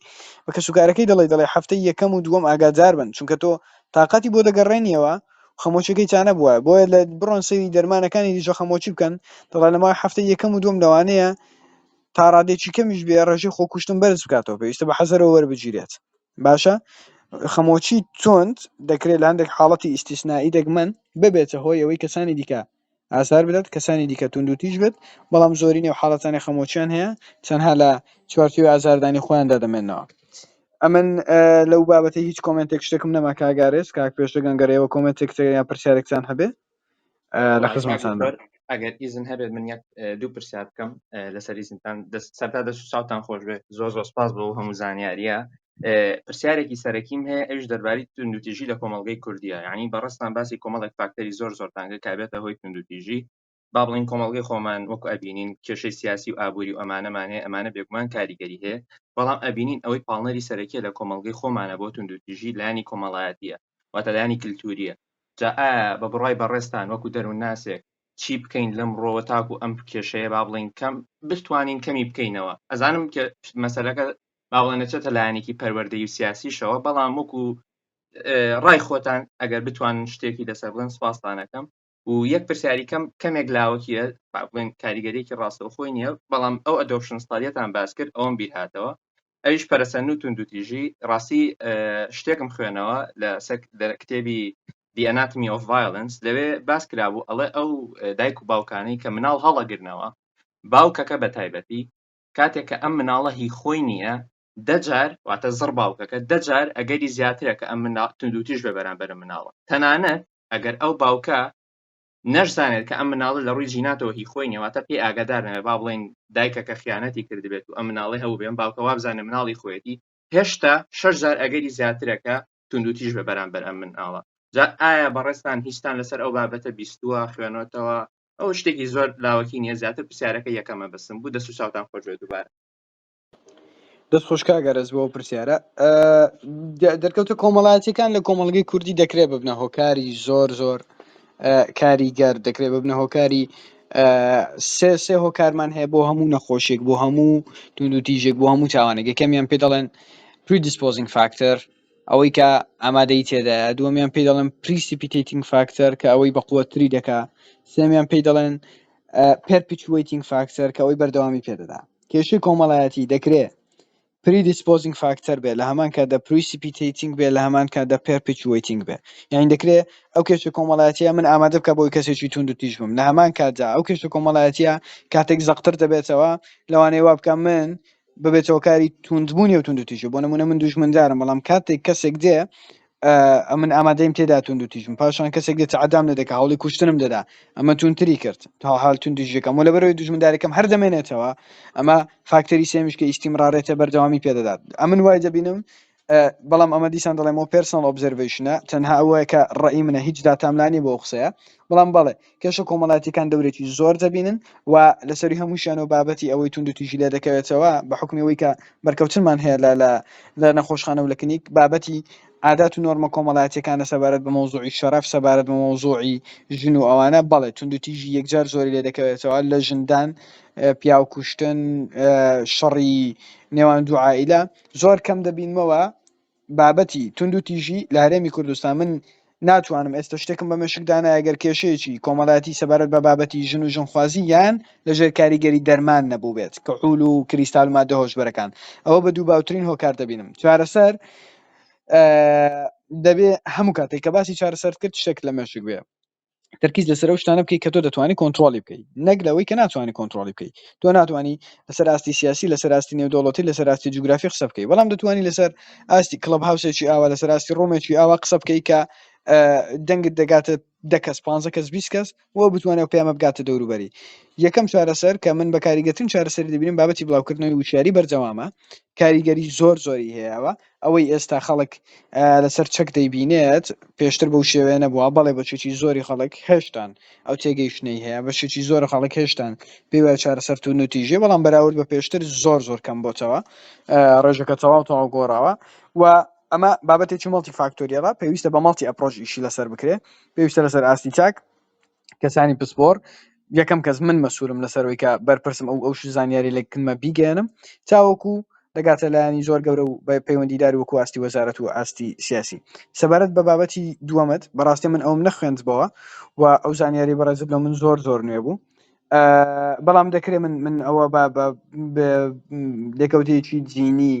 بە کەسوکارەکەی دەڵێ دەڵێ هەفتەی یەکەم و دووەم ئاگادار بن چونکە تۆ تااقەتی بۆ دەگەڕێنیەوە خەمۆکیەکەی چانە بووە بۆیە لە بڕۆن سەری دەرمانەکانی دیژە خەمۆکی بکەن دەڵێ لە ماوەی هەفتەی یەکەم و دووەم لەوانەیە تاڕادێکی کەمیش بێ ڕێژەی خۆکوشتن بەرز بکاتەوە پێویستە بە حەزەرەوە وەربگیرێت باشە خەمۆکی توند دەکرێت لە هەندێک حاڵەتی ئیسیسنایی دەگمەن ببێتە هۆی ئەوەی کەسانی دیکە ئازار بدات کەسانی دیکە توند و تیژ بێت بەڵام زۆری نێو حاڵەتانی خەمۆکیان هەیە تەنها لە چوارچێوەی ئازاردانی خۆیاندا دەمێنەوە ئەمن لەو بابەتی هیچ کۆمنتێک شتێکم نەما کاگارێز کاک پێشتگەنگەرەوە کۆمنتێک یا پرسیارێکتان هەبێت لە خزمەتان ئەگەر ئیزن هەبێت من یەک دوو پرسیار بکەم لەسەر ئیزنتان سەرتا دەست چاوتان خۆش بێت زۆر زۆر سپاس بۆ هەموو زانیاریە پرسیارێکی سەرەکیم هەیە ئەوش دەرباری توندوتیژی لە کۆمەلگەی کوردیە ینی بەڕستان باسی کۆمەڵێک فاکتەری زۆر زۆرتانگە کابێتە هۆی توندوتیژی با بڵین کۆمەلگەی خۆمان وەک ئەبینین کێشەی سیاسی و ئابووری و ئەمانەمانێ ئەمانە بێگومان کاریگەری هەیە بەڵام ئەبینین ئەوەی پاڵنەری سەرەکیە لە کۆمەلگەی خۆمانە بۆ توندوتیژی لانی کۆمەڵایەتە واتە لایەنی کلتوریە جا ئایا بە بڕای بەڕێزتان وەکو دەروونناسێک چی بکەین لەمڕۆوە تاکو ئەم کێشەیە با بڵێین کەم بتوانین کەمی بکەینەوە ئەزانم کە مەسەلەکە با بڵێن نەچێتە لایەنێکی پەروەردەی و سیاسیشەوە بەڵام وەکو ڕای خۆتان ئەگەر بتوانن شتێکی لەسەر بڵێن سوپاستانەکەم و یەک پرسیاری کەم کەمێک لاوەکیە بڵێن کاریگەرێکی ڕاستەوە خۆی نییە بەڵام ئەو ئەدۆپشن ستالیەتان باس کرد ئەوم بیر هاتەوە ئەویش پەرسە نووت و دوتیژی ڕاستی شتێکم خوێنەوە لە سەر کتێبی The Anatomy of Violence لەوێ باس کرابوو ئەڵێ ئەو دایک و باوکانی کە مناڵ هەڵەگرنەوە باوکەکە بە تایبەتی کاتێک کە ئەم مناڵە هی خۆی نییە دە جار واتە زڕ باوکەکە دە جار ئەگەری زیاترە کە ئەم منا توندوتیژ بە بەرامبەر مناڵە تەنانەت ئەگەر ئەو باوکە نەشزانێت کە ئەم مناڵە لە ڕووی جیناتەوە هی خۆی نێواتە پێ ئاگادار نەوێ با بڵێن دایکە کە خیانەتی کردبێت و ئەم مناڵی هەبوو بێن باوکە وابزانە مناڵی خۆیەتی هێشتا شەش جار ئەگەری زیاترەکە توندوتیژ بە بەرامبەر ئەم مناڵە جا ئایا بەڕێستان هیچتان لەسەر ئەو بابەتە بیستووە خوێنەوەتەوە ئەو شتێکی زۆر لاوەکی نیە زیاتر پرسیارەکە یەکەمە بەسم بوو دەسو چاوتان خۆشێ دووبارە دەست خۆش کاک ئەرەس بۆ پرسیارە دەرکەوتە کۆمەڵاتیەکان لە کۆمەڵگەی کوردی دەکرێت ببنە هۆکاری زۆر زۆر کاریگەر دەکرێت ببنە هۆکاری سێ سێ هۆکارمان هەیە بۆ هەموو نەخۆشیێک بۆ هەموو توندوتیژێک بۆ هەموو تاوانێک یەکەمیان پێ دەڵێن پریدیسپۆزینگ فاکتەر ئەوەی کە ئامادەی تێدا دووەمیان پێ دەڵێن پریسیپیتنگ فاکتەر کە ئەوەی بە قوتری دەکا سێمیان پێی دەڵێن پرپیچویتنگ فاکتەر کە ئەوەی بەردەوامی پێدەدا کێشەی کۆمەڵایەتی دەکرێ Predisposing Factor بێت، لە هەمان کاتدا Precipitating بێت، لە هەمان کاتدا Perpetuating بێت. یانی دەکرێ ئەو کێشە کۆمەڵایەتییە من ئامادە بکات بۆ ئەوەی کەسێکی تووندوتیژ بم، لە هەمان کاتدا ئەو کێشە کۆمەڵایەتییە کاتێک زەقتر دەبێتەوە، لەوانەیە وا بکات من ببێت هۆکاری تووندبوونی ئەو تووندوتیژییە. بۆ نموونە من دوژمندارم، بەڵام کاتێک کەسێک دێ ئەمن ئامادەیم تێدا توندو تیژم پاشان کەسێک دێت عدام لە دەکە هەوڵی کوشتنم دەدا ئەمە تونتری کرد تا حال تون دژەکەم و لە بەرەوەی دژمندارەکەم هەر دەمێنێتەوە ئەمە فاکتەری سێمیش کە ئیسیمڕارێتە بەردەوامی پێدەدات ئەمن وای دەبینم بەڵام ئەمە دیسان دەڵێمەوە پرسنل ئۆبزرڤشنە تەنها ئەوەیە کە ڕئی منە هیچ داتاملانی بۆ قسەیە بەڵام بەڵێ کێشە کۆمەڵایەتیەکان دەورێکی زۆر دەبینن و لەسەروی هەمووشیانەوە بابەتی ئەوەی توندوتیژی لێ دەکەوێتەوە بە حوکمی ئەوەی کە بەرکەوتنمان هەیە لە لە لە نەخۆشخانە و لە کلینیک بابەتی عادات و نۆرمە کۆمەڵایەتیەکانە سەبارەت بە مەوزوعی شەرەف سەبارەت بە مەوزوعی ژن و ئەوانە بەڵێ توندوتیژی یەکجار زۆری لێ دەکەوێتەوە لە ژندان پیاو کوشتن شەڕی نێوان دوو عائیلە زۆر کەم دەبینمەوە بابەتی توندوتیژی لە هەرێمی کوردستان من ناتوانم ئێستا شتێکم بە مێشک دانایە گەر کێشەیەکی کۆمەڵایەتی سەبارەت بە بابەتی ژن و ژنخوازی یان لەژێر کاریگەری دەرمان نەبوو بێت کە عول و کریستال و مادە هۆشبەرەکان ئەوە بە دوو باوترین هۆکار دەبینم چارەسەر دەبێ هەموو کاتێک کە باسی چارەسەر کرد شتێک لە مێشک بێ تەرکیز لەسەر ئەو شتانە بکەیت کە تۆ دەتوانانی کۆنتترۆلی بکەیت نەک لەوەی کە ناتوانانی کۆنتترۆلی بکەیت تۆ ناتوانانی لەسەر ئاستی سیاسی لەسەر ئاستی نێودوڵەتی لەسەر ئاستی جوگرافی قسە بکەیت بەڵام دەتوانانی لەسەر ئاستی کلب هاوسێکی ئاوا لەسەر ئاستی ڕۆمێکی ئاوا قسە بکەیت کە دەنگت دەگاتە دەکەس پ کەس بیست کەس و بتوانێت پێمە بگاتە دەوروبەری یەکەم چارەسەر کە من بە کاریگەتن چارەسەر دەبینم بابەتی بڵاوکردنەوەی وشاری بەرجەوامە کاریگەری زۆر زۆری هەیەەوە ئەوەی ئێستا خەڵک لەسەر چەک دەیبینێت پێشتر بەو شێوەیە نەبووە بەڵێ بەشێکی زۆری خەڵک هێشتان ئەو تێگەیشتنەی هەیە بەشێکی زۆر خەڵک هێشتان پێی وایە چارەسەر تون و تیژی بەڵام بەراورد بە پێشتر زۆر زۆر کەم بۆتەوە ڕێژەکە تەواو تەواو گۆڕاوە و ئەمە بابەتێکی مەڵتی فاکتۆریەڵە پێویستە بە مەڵتی ئەپرۆژ ئیشی لەسەر بکرێت پێویستە لەسەر ئاستی چاک کەسانی پسپۆر یەکەم کەس من مەسوولم لەسەرەوەی کە بەرپرسم ئەو ئەو زانیاری لە کنمە بیگەێنم تاوەکو دەگاتە لایەنی زۆر گەورە و بە پەیوەندیدار وەکو ئاستی وەزارەت و ئاستی سیاسی سەبارەت بە بابەتی دووەمەت بەڕاستی من ئەوم نەخوێندبەوە و ئەو زانیاری بەڕێزت لە من زۆر زۆر نوێ بوو بەڵام دەکرێت من من ئەوە بە لێکەوتەیەکی جینی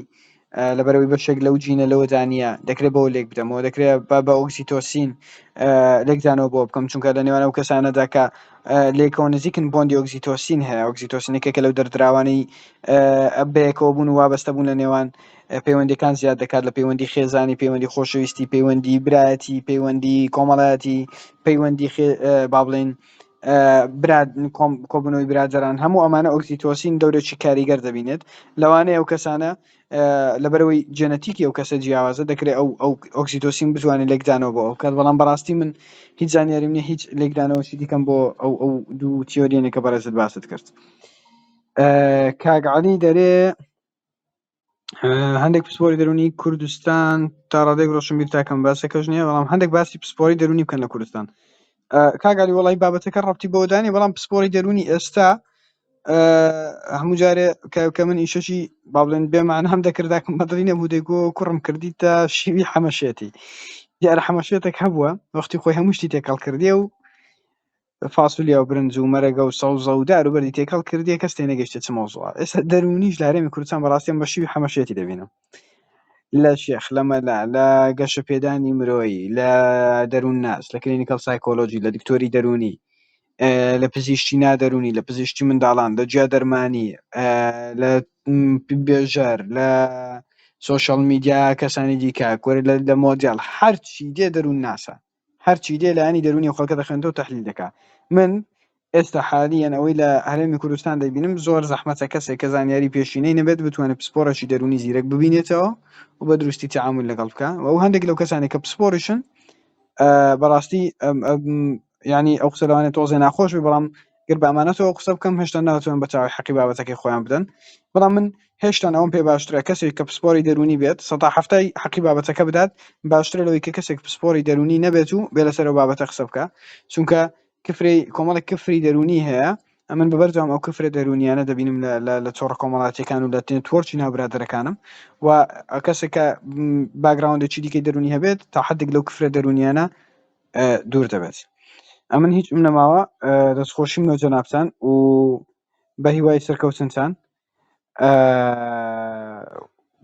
لەبەرەوەی بەشێک لەو جینە لەوەدا نییە دەکرێت بەوە لێک بدەمەوە دەکرێت با بە ئۆکسیتۆسین لێکدانەوە بۆ بکەم چونکە لە نێوان ئەو کەسانەدا کە لێکەوە نزیکن بۆندی ئۆکسیتۆسین هەیە ئۆکسیتۆسینەکە کە لەو دەردراوانەی بەیەکەوە بوون و وابەستە بوون لە نێوان پەیوەندەکان زیاد دەکات لە پەیوەندی خێزانی پەیوەندی خۆشەویستی پەیوەندی برایەتی پەیوەندی کۆمەڵایەتی پەیوەندی با بڵین کۆبوونەوەی برادەران هەموو ئەمانە ئۆکسیتۆسین دەورێکی کاریگەر دەبینێت لەوانەیە ئەو کەسانە لەبەرەوەی جێنەتیکی ئەو کەسە جیاوازە دەکرێت ئەو ئەو ئۆکسیتۆسین بتوانێت لێکدانەوە بۆ ئەو کات بەڵام بەڕاستی من هیچ زانیاری منە هیچ لێکدانەوەشی دیکەم بۆ ئەو ئەو دوو تیۆریێنێکە بەڕێزت باست کرد کاگعالی دەرێ هەندێک پسپۆری دەرونی کوردستان تا ڕادێک ڕۆشنبیر تاکەم باسەکەش نیە بەڵام هەندێک باسی پسپۆری دەرونی بکەن لە کوردستان کاگەری وڵی بابەتەکە ڕەتی بۆدانی بەڵام پسپۆری دەرونی ئێستا هەموو جارێ کە من ئیشەشی بابلێن بێمان هەم دەکرداکم بەدڵی نەبوو دەگو کوڕم کردی تا شیوی حەمەشێتی دیارە حەمەشێتێک هەبووە وەختی خۆی هەموو شتی تێکەڵ کردێ و فاسولیا و برنج و مەرەگە و سەوزە و دار و بەردی تێکەڵ کردیە کەس تێنەگەشتیە چ مەوزوعە ئێستا دەروونیش لە هەرێمی کوردستان بەڕاستی ئەمڕۆ شیوی حەمەشێتی دەبینم لە شێخ لە مەلا لە گەشەپێدانی مرۆیی لە دەروون ناس لە کلینیکەڵ سایکۆلۆژی لە دکتۆری دەروونی لە پزیشتی نادەرونی لە پزیشتی منداڵان لە جیا دەرمانی لە بێژەر لە سوۆشال میدیا کەسانی دیکە کۆری لە مۆدیال هەرچی دێ دەروون ناسە هەرچی دێ لایەنی دەروونی ئەو خەڵکە دەخوێنێتەوە تەحلیل دەکا من ئێستا حالیەن ئەوەی لە هەرێمی کوردستان دەبینم زۆر زەحمەتە کەسێک کە زانیاری پێشینەی نەبێت بتوانێت پسپۆڕێکی دەروونی زیرەک ببینێتەوە و بە دروستی تعامل لەگەڵ بکە و ئەو هەندێک لەو کەسانی کە پسپۆڕیشن بەڕاستی ینی ئەو قسە لەوانێت تۆزێ ناخۆش بێ بەڵام گەر بە ئەمانەتەوە قسە بکەم هێشتا ناتوانن بە تەواوی حەقی بابەتەکەی خۆیان بدەن بەڵام من هێشتان ئەوەم پێ باشترە کەسێک کە پسپۆری دەرونی بێت سەتا حەفتای حەقی بابەتەکە بدات باشترە لەوەی کە کەسێک پسپۆری دەرونی نەبێت و بێ لەسەرەوە بابەتە قسە بکە چونکە کفری کۆمەڵێک کفری دەرونی هەیە ئەمن بە بەردەوام ئەو کفرە دەرونیانە دەبینم لە تۆڕە کۆمەڵاتیەکان و لە تۆرچی ناوبرادەرەکانم و کەسێکە باگراوندێکی دیکەی دەرونی هەبێت تا حدێک لەو کفرە دەرونیانە دوور دەبێت ئەمن هیچ من نەماوە دەستخۆشیم لە جەنابان و بە هیوای سەرکەوتنتان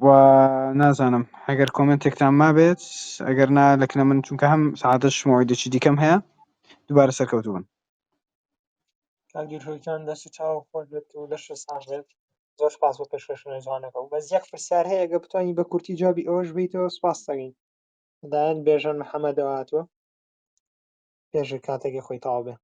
و نازانم هەگەر کۆمنتێکتان مابێت ئەگەر نا لەکنە من چونکە هەم سعادە شمەوەی دەچی دیکەم هەیە دوبارە سەرکەوتو بن کاگیر هۆیتان دەستی چاو خۆش بێت و لەش ساغ بێت زۆر سپاس بۆ پێشکەشنە جوانەکە و بەس یەک پرسیار هەیە گە بتوانین بە کورتی جوابی ئەوەش بیتەوە سپاس دەگەین لەلایەن بێژەن محەممەدەوە هاتووە پێش کاتێکی خۆی تاوا بێ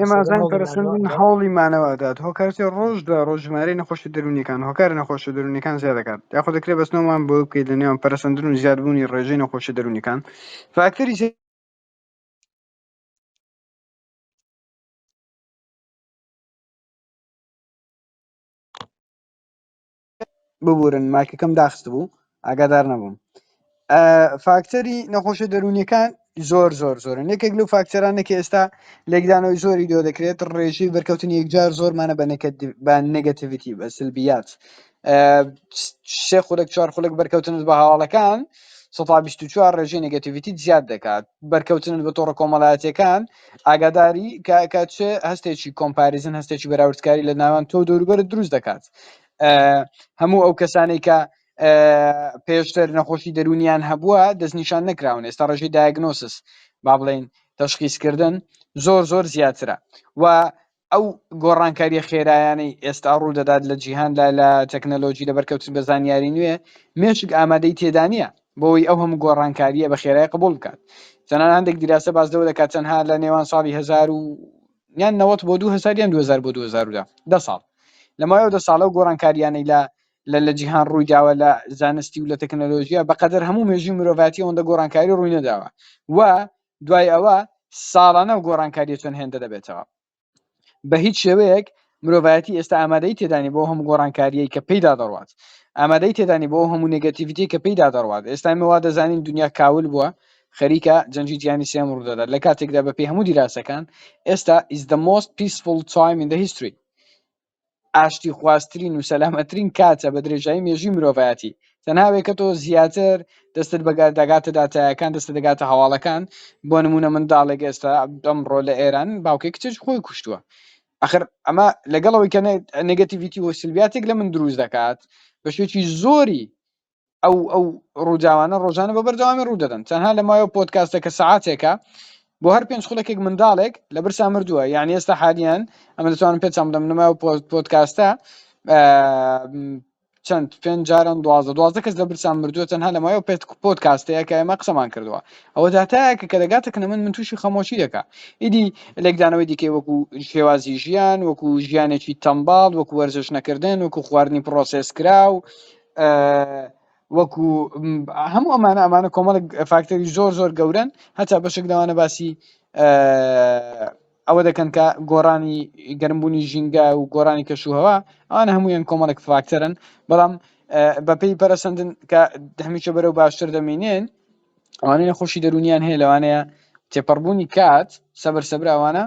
ئێمەزان پەرسەندن هەوڵی مانەوەدات هۆکارتی ڕۆژ دوای ڕۆژ ژمارەی نەخۆشی دەرونیەکان هۆکار نەخۆشە دەرونیەکان زیاد دەکات یاخۆ دەکرێت بەسنەوەمان بۆ بکەیت لە نێوان پەرسەندن و زیادبوونی ڕێژەی نەخۆشی دەرونیەکان فاکتەری ببورن مایکەکەم داخست بوو ئاگادار نەبووم ئە فاکتەری نەخۆشە دەروونیەکان زۆر زۆر زۆرن یەکێک لەو فاکتەرانە کە ئێستا لێکدانەوەی زۆری دۆ دەکرێت ڕێژەی بەرکەوتنی یەکجار زۆرمانە بە نەکەت- بە نگەتیڤیتی بە سلبیات ئە، سێ خولەک چوار خولەک بەرکەوتنت بە هەواڵەکان سەدا بیست و چوار ڕێژەی نگەتیڤیتیت زیاد دەکات بەرکەوتنت بە تۆڕە کۆمەڵایەتیەکان ئاگاداری کاکە چ هەستێکی کۆمپاریزن هەستێکی بەراوردکاری لە ناوان تۆ دەوروبەر دروست دەکات هەموو ئەو کەسانەی کە پێشتر نەخۆشی دەرونیان هەبووە دەستنیشان نەکراون ئێستا ڕژی دایگنۆسس با بڵین تەشخیسکردن زۆر زۆر زیاترە و ئەو گۆڕانکاریە خێرایانەی ئێستا ڕوو دەدات لە جیهاندا لە تەکنەلۆجی لە بەرکەوتن بە زانیاری نوێ مێشک ئامادەی تێدانە بۆی ئەو هەموو گۆڕانکاریە بە خێرای قبول بکات تەنان هەندێک دیراسە باز لەوە دەکات تەنها لە نێوان ساڵی هزار و یان نەوەت بۆ 2000 یان 2000 بۆ 2010 دە ساڵ لەمایەوە دە ساڵە و گۆڕانکاریانەی لە لە لە جیهان ڕووی داوە لە زانستی و لە تەکنەلۆژیە بەقەدەر هەموو مێژوی مرۆڤاتی ئەوەندە گۆڕانکاری ڕووی نەداوە و دوای ئەوە ساڵانە ئەو گۆڕانکاریە چەند هێندە دەبێتەوە بە هیچ شێوەیەک مرۆڤایەتی ئێستا ئامادەی تێدانی بۆ هەموو گۆڕانکاریەی کە پێیدا دەڕوات ئامادەی تێدانی بۆ هەموو نگەتیڤیتی کە پێیدا دەڕوات ئێستای مەوا دەزانین دنیا کاول بووە خەریکە جەنجی جیانی سێم ڕوودەدات لە کاتێکدا بەپی هەموو دیراسەکان ئێستا is the most peaceful time in the history ئاشتیخوازترین و سەلامەتترین کاتە بە درێژایی مێژووی مرۆڤایەتی تەنها وێکەتۆ زیاتر دەستت بە دەگاتە داتایەکان دەستت دەگاتە هەواڵەکان بۆ نموونە منداڵێک ئێستا ئەمڕۆ لە ئێران باوکی کچێک خۆی کوشتووە ئەخر ئەمە لەگەڵەوەی کە نێگەتیڤیتی و سلبیاتێک لە من دروست دەکات بە شێوەیەکی زۆری ئەو ئەو ڕووداوانە ڕۆژانە بە بەردەوامی ڕوو دەدەن تەنها لە مایەوە پۆتکاستە کە سەعاتێکە بۆ هەر پێنج خولەکێک منداڵێک لە برسا مردووە یعنی ئێستا حالیان ئەمە دەتوانم پێ چەندم نمایەوە پۆتکاستە چەند پێنج جاران دوازە دوازە کەس لە برسان مردووە تەنها لە مایەوە پێت پۆت کاستەیە کە ئێمە قسەمان کردووە ئەوە داتایەکە کە دەگاتە کە من من تووشی خەمۆشی دەکە ئیدی لێکدانەوەی دیکەی وەکو شێوازی ژیان وەکو ژیانێکی تەمباڵ وەکو وەرزش نەکردن وەکو خواردنی پرۆسس کرا و وەکو هەموو ئەمانە ئەمانە کۆمەڵک فاکتەری زۆر زۆر گەورن هەتا بەشێک داوانە باسی ئەوە دەکەن کە گۆڕانی گەرمبوونی ژینگە و گۆرانی کەشوهوە ئەوان هەموویان کۆمەڵک فاکتەرن بەڵام بەپی پەرسەندن کە هەمیشە بەرەو باشتر دەمینێن ئەوانەیە خۆشی دەرونیان هەیە لەوانەیە تێپەڕبوونی کات سەبەر سەبراوانە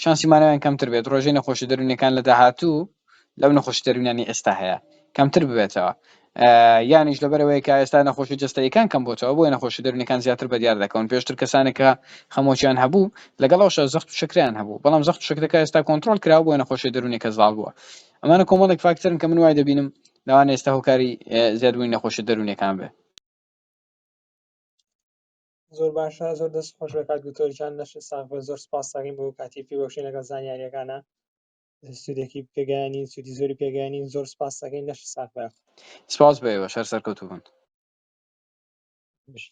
شانسی مانەوەیان کەمتر بێت، ڕێژەی نەخۆشیە دەروونیەکان لە داهاتوو لەو نەخۆشیە دەروونیانەی ئێستا هەیە کەمتر ببێتەوە، یانیش لەبەرئەوەی کە ئێستا نەخۆشیە جەستەییەکان کەم بۆتەوە بۆیە نەخۆشیە دەروونیەکان زیاتر بەدیار دەکەون، پێشتر کەسانێک کە خەمۆکیان هەبوو لەگەڵ ئەوشا زەخت و شەکرەیان هەبوو بەڵام زەخت و شەکرەکە ئێستا کۆنتڕۆڵ کراوە بۆیە نەخۆشیە دەروونیەکە زاڵ بووە، ئەمانە کۆمەڵێک فاکتەرن کە من وای دەبینم لەوانە ئێستا هۆکاری زیادبوونی نەخۆشیە دەروونیەکان بێت. زۆر باشە زۆر دەست خۆش بە کاک دکتۆر جان لەشت ساغ بێت زۆر سپاس دەکەین بۆ کاتی پێبەخشین لەگەڵ زانیارییەکانە سودێکی پێگەیانی سودی زۆری پێگەیانی زۆر سپاس دەکەین لەش ساغ بێت سپاس بە ئێوە شەر سەرکەوتوو بن بژی.